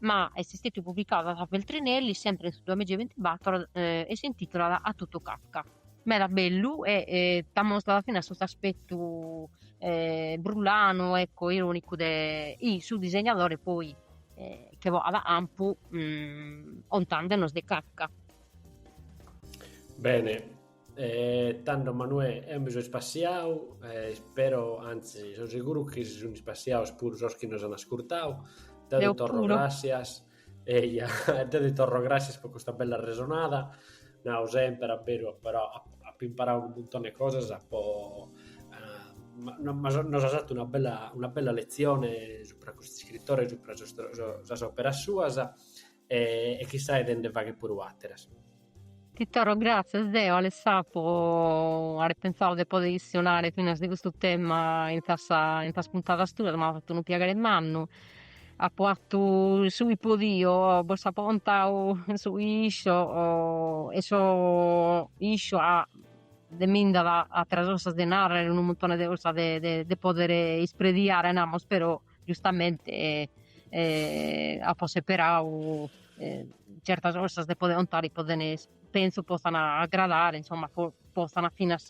S3: ma est stètiu publicau da sa Feltrinelli sèmpiri in su duamigi e bintibàtoro e s'intìtulat A tutto Kafka. Meda bellu e t'amostat finas custu aspetu brullanu ecco ironicu de su disegnadori poi chi bogat a campu contàndenos de Kafka.
S2: Bene E tando Manuè, eo mi so ispassiau, e ispero, anzi, so seguru chi si sunt ispassiaus puru sos chi nos an ascurtau. Deu ti torro puru. gràssias, eia, deu ti torro gràssias po custa bella resonada, nau semper a beru, però apo imparau unu muntone 'e cosas po nos as fatu una bella una bella letzione subra custu iscritore e subra sas operas suas e, e chissai de nde fagher puru àteras. Ti
S3: torro gràtzias deo, Alessà, po àere pentzadu de poder chistionare finas de custu tema in sas in sas puntadas tuas, m'at fatu unu piaghere mannu, apo fatu su chi podio, bos apo contadu su chi isco e so isco ca de mi nd'at àteras cosas de narrer, unu muntone de cosas de de poder isprediare namus però giustamente apo seperadu certas cosas de poder contare po zene pentzo potzan agradare insomma po potzan finas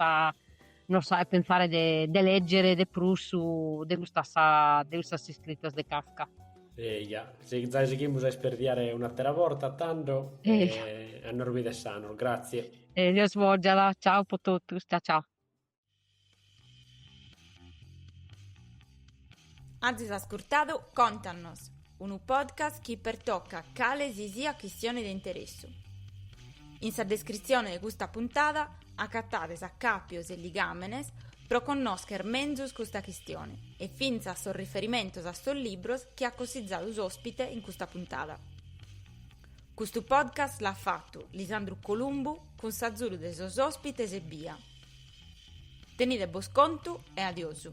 S3: non so pensare de de leggere de prus de custas de custas iscritas de Kafka.
S2: Eja, zai sighimus a isperdiare un'atera borta tando e a nos bider sanos, grazie. E Deus bògiat,
S3: ciao po totus, ciao ciao.
S1: Azis ascurtadu Contannos, unu podcast chi pertocat cale si siat chistione de interessu. In sa descritzione de custa puntada acatades acàpios e ligàmenes pro connòscher menzus custa chistione e fintzas sos riferimentos a sos libros chi at cossizadu s'òspite in custa puntada. Custu podcast l'at fatu Lisandru Columbu cun s'azudu de sos òspites ebbia. Tenide bos contu e adiosu.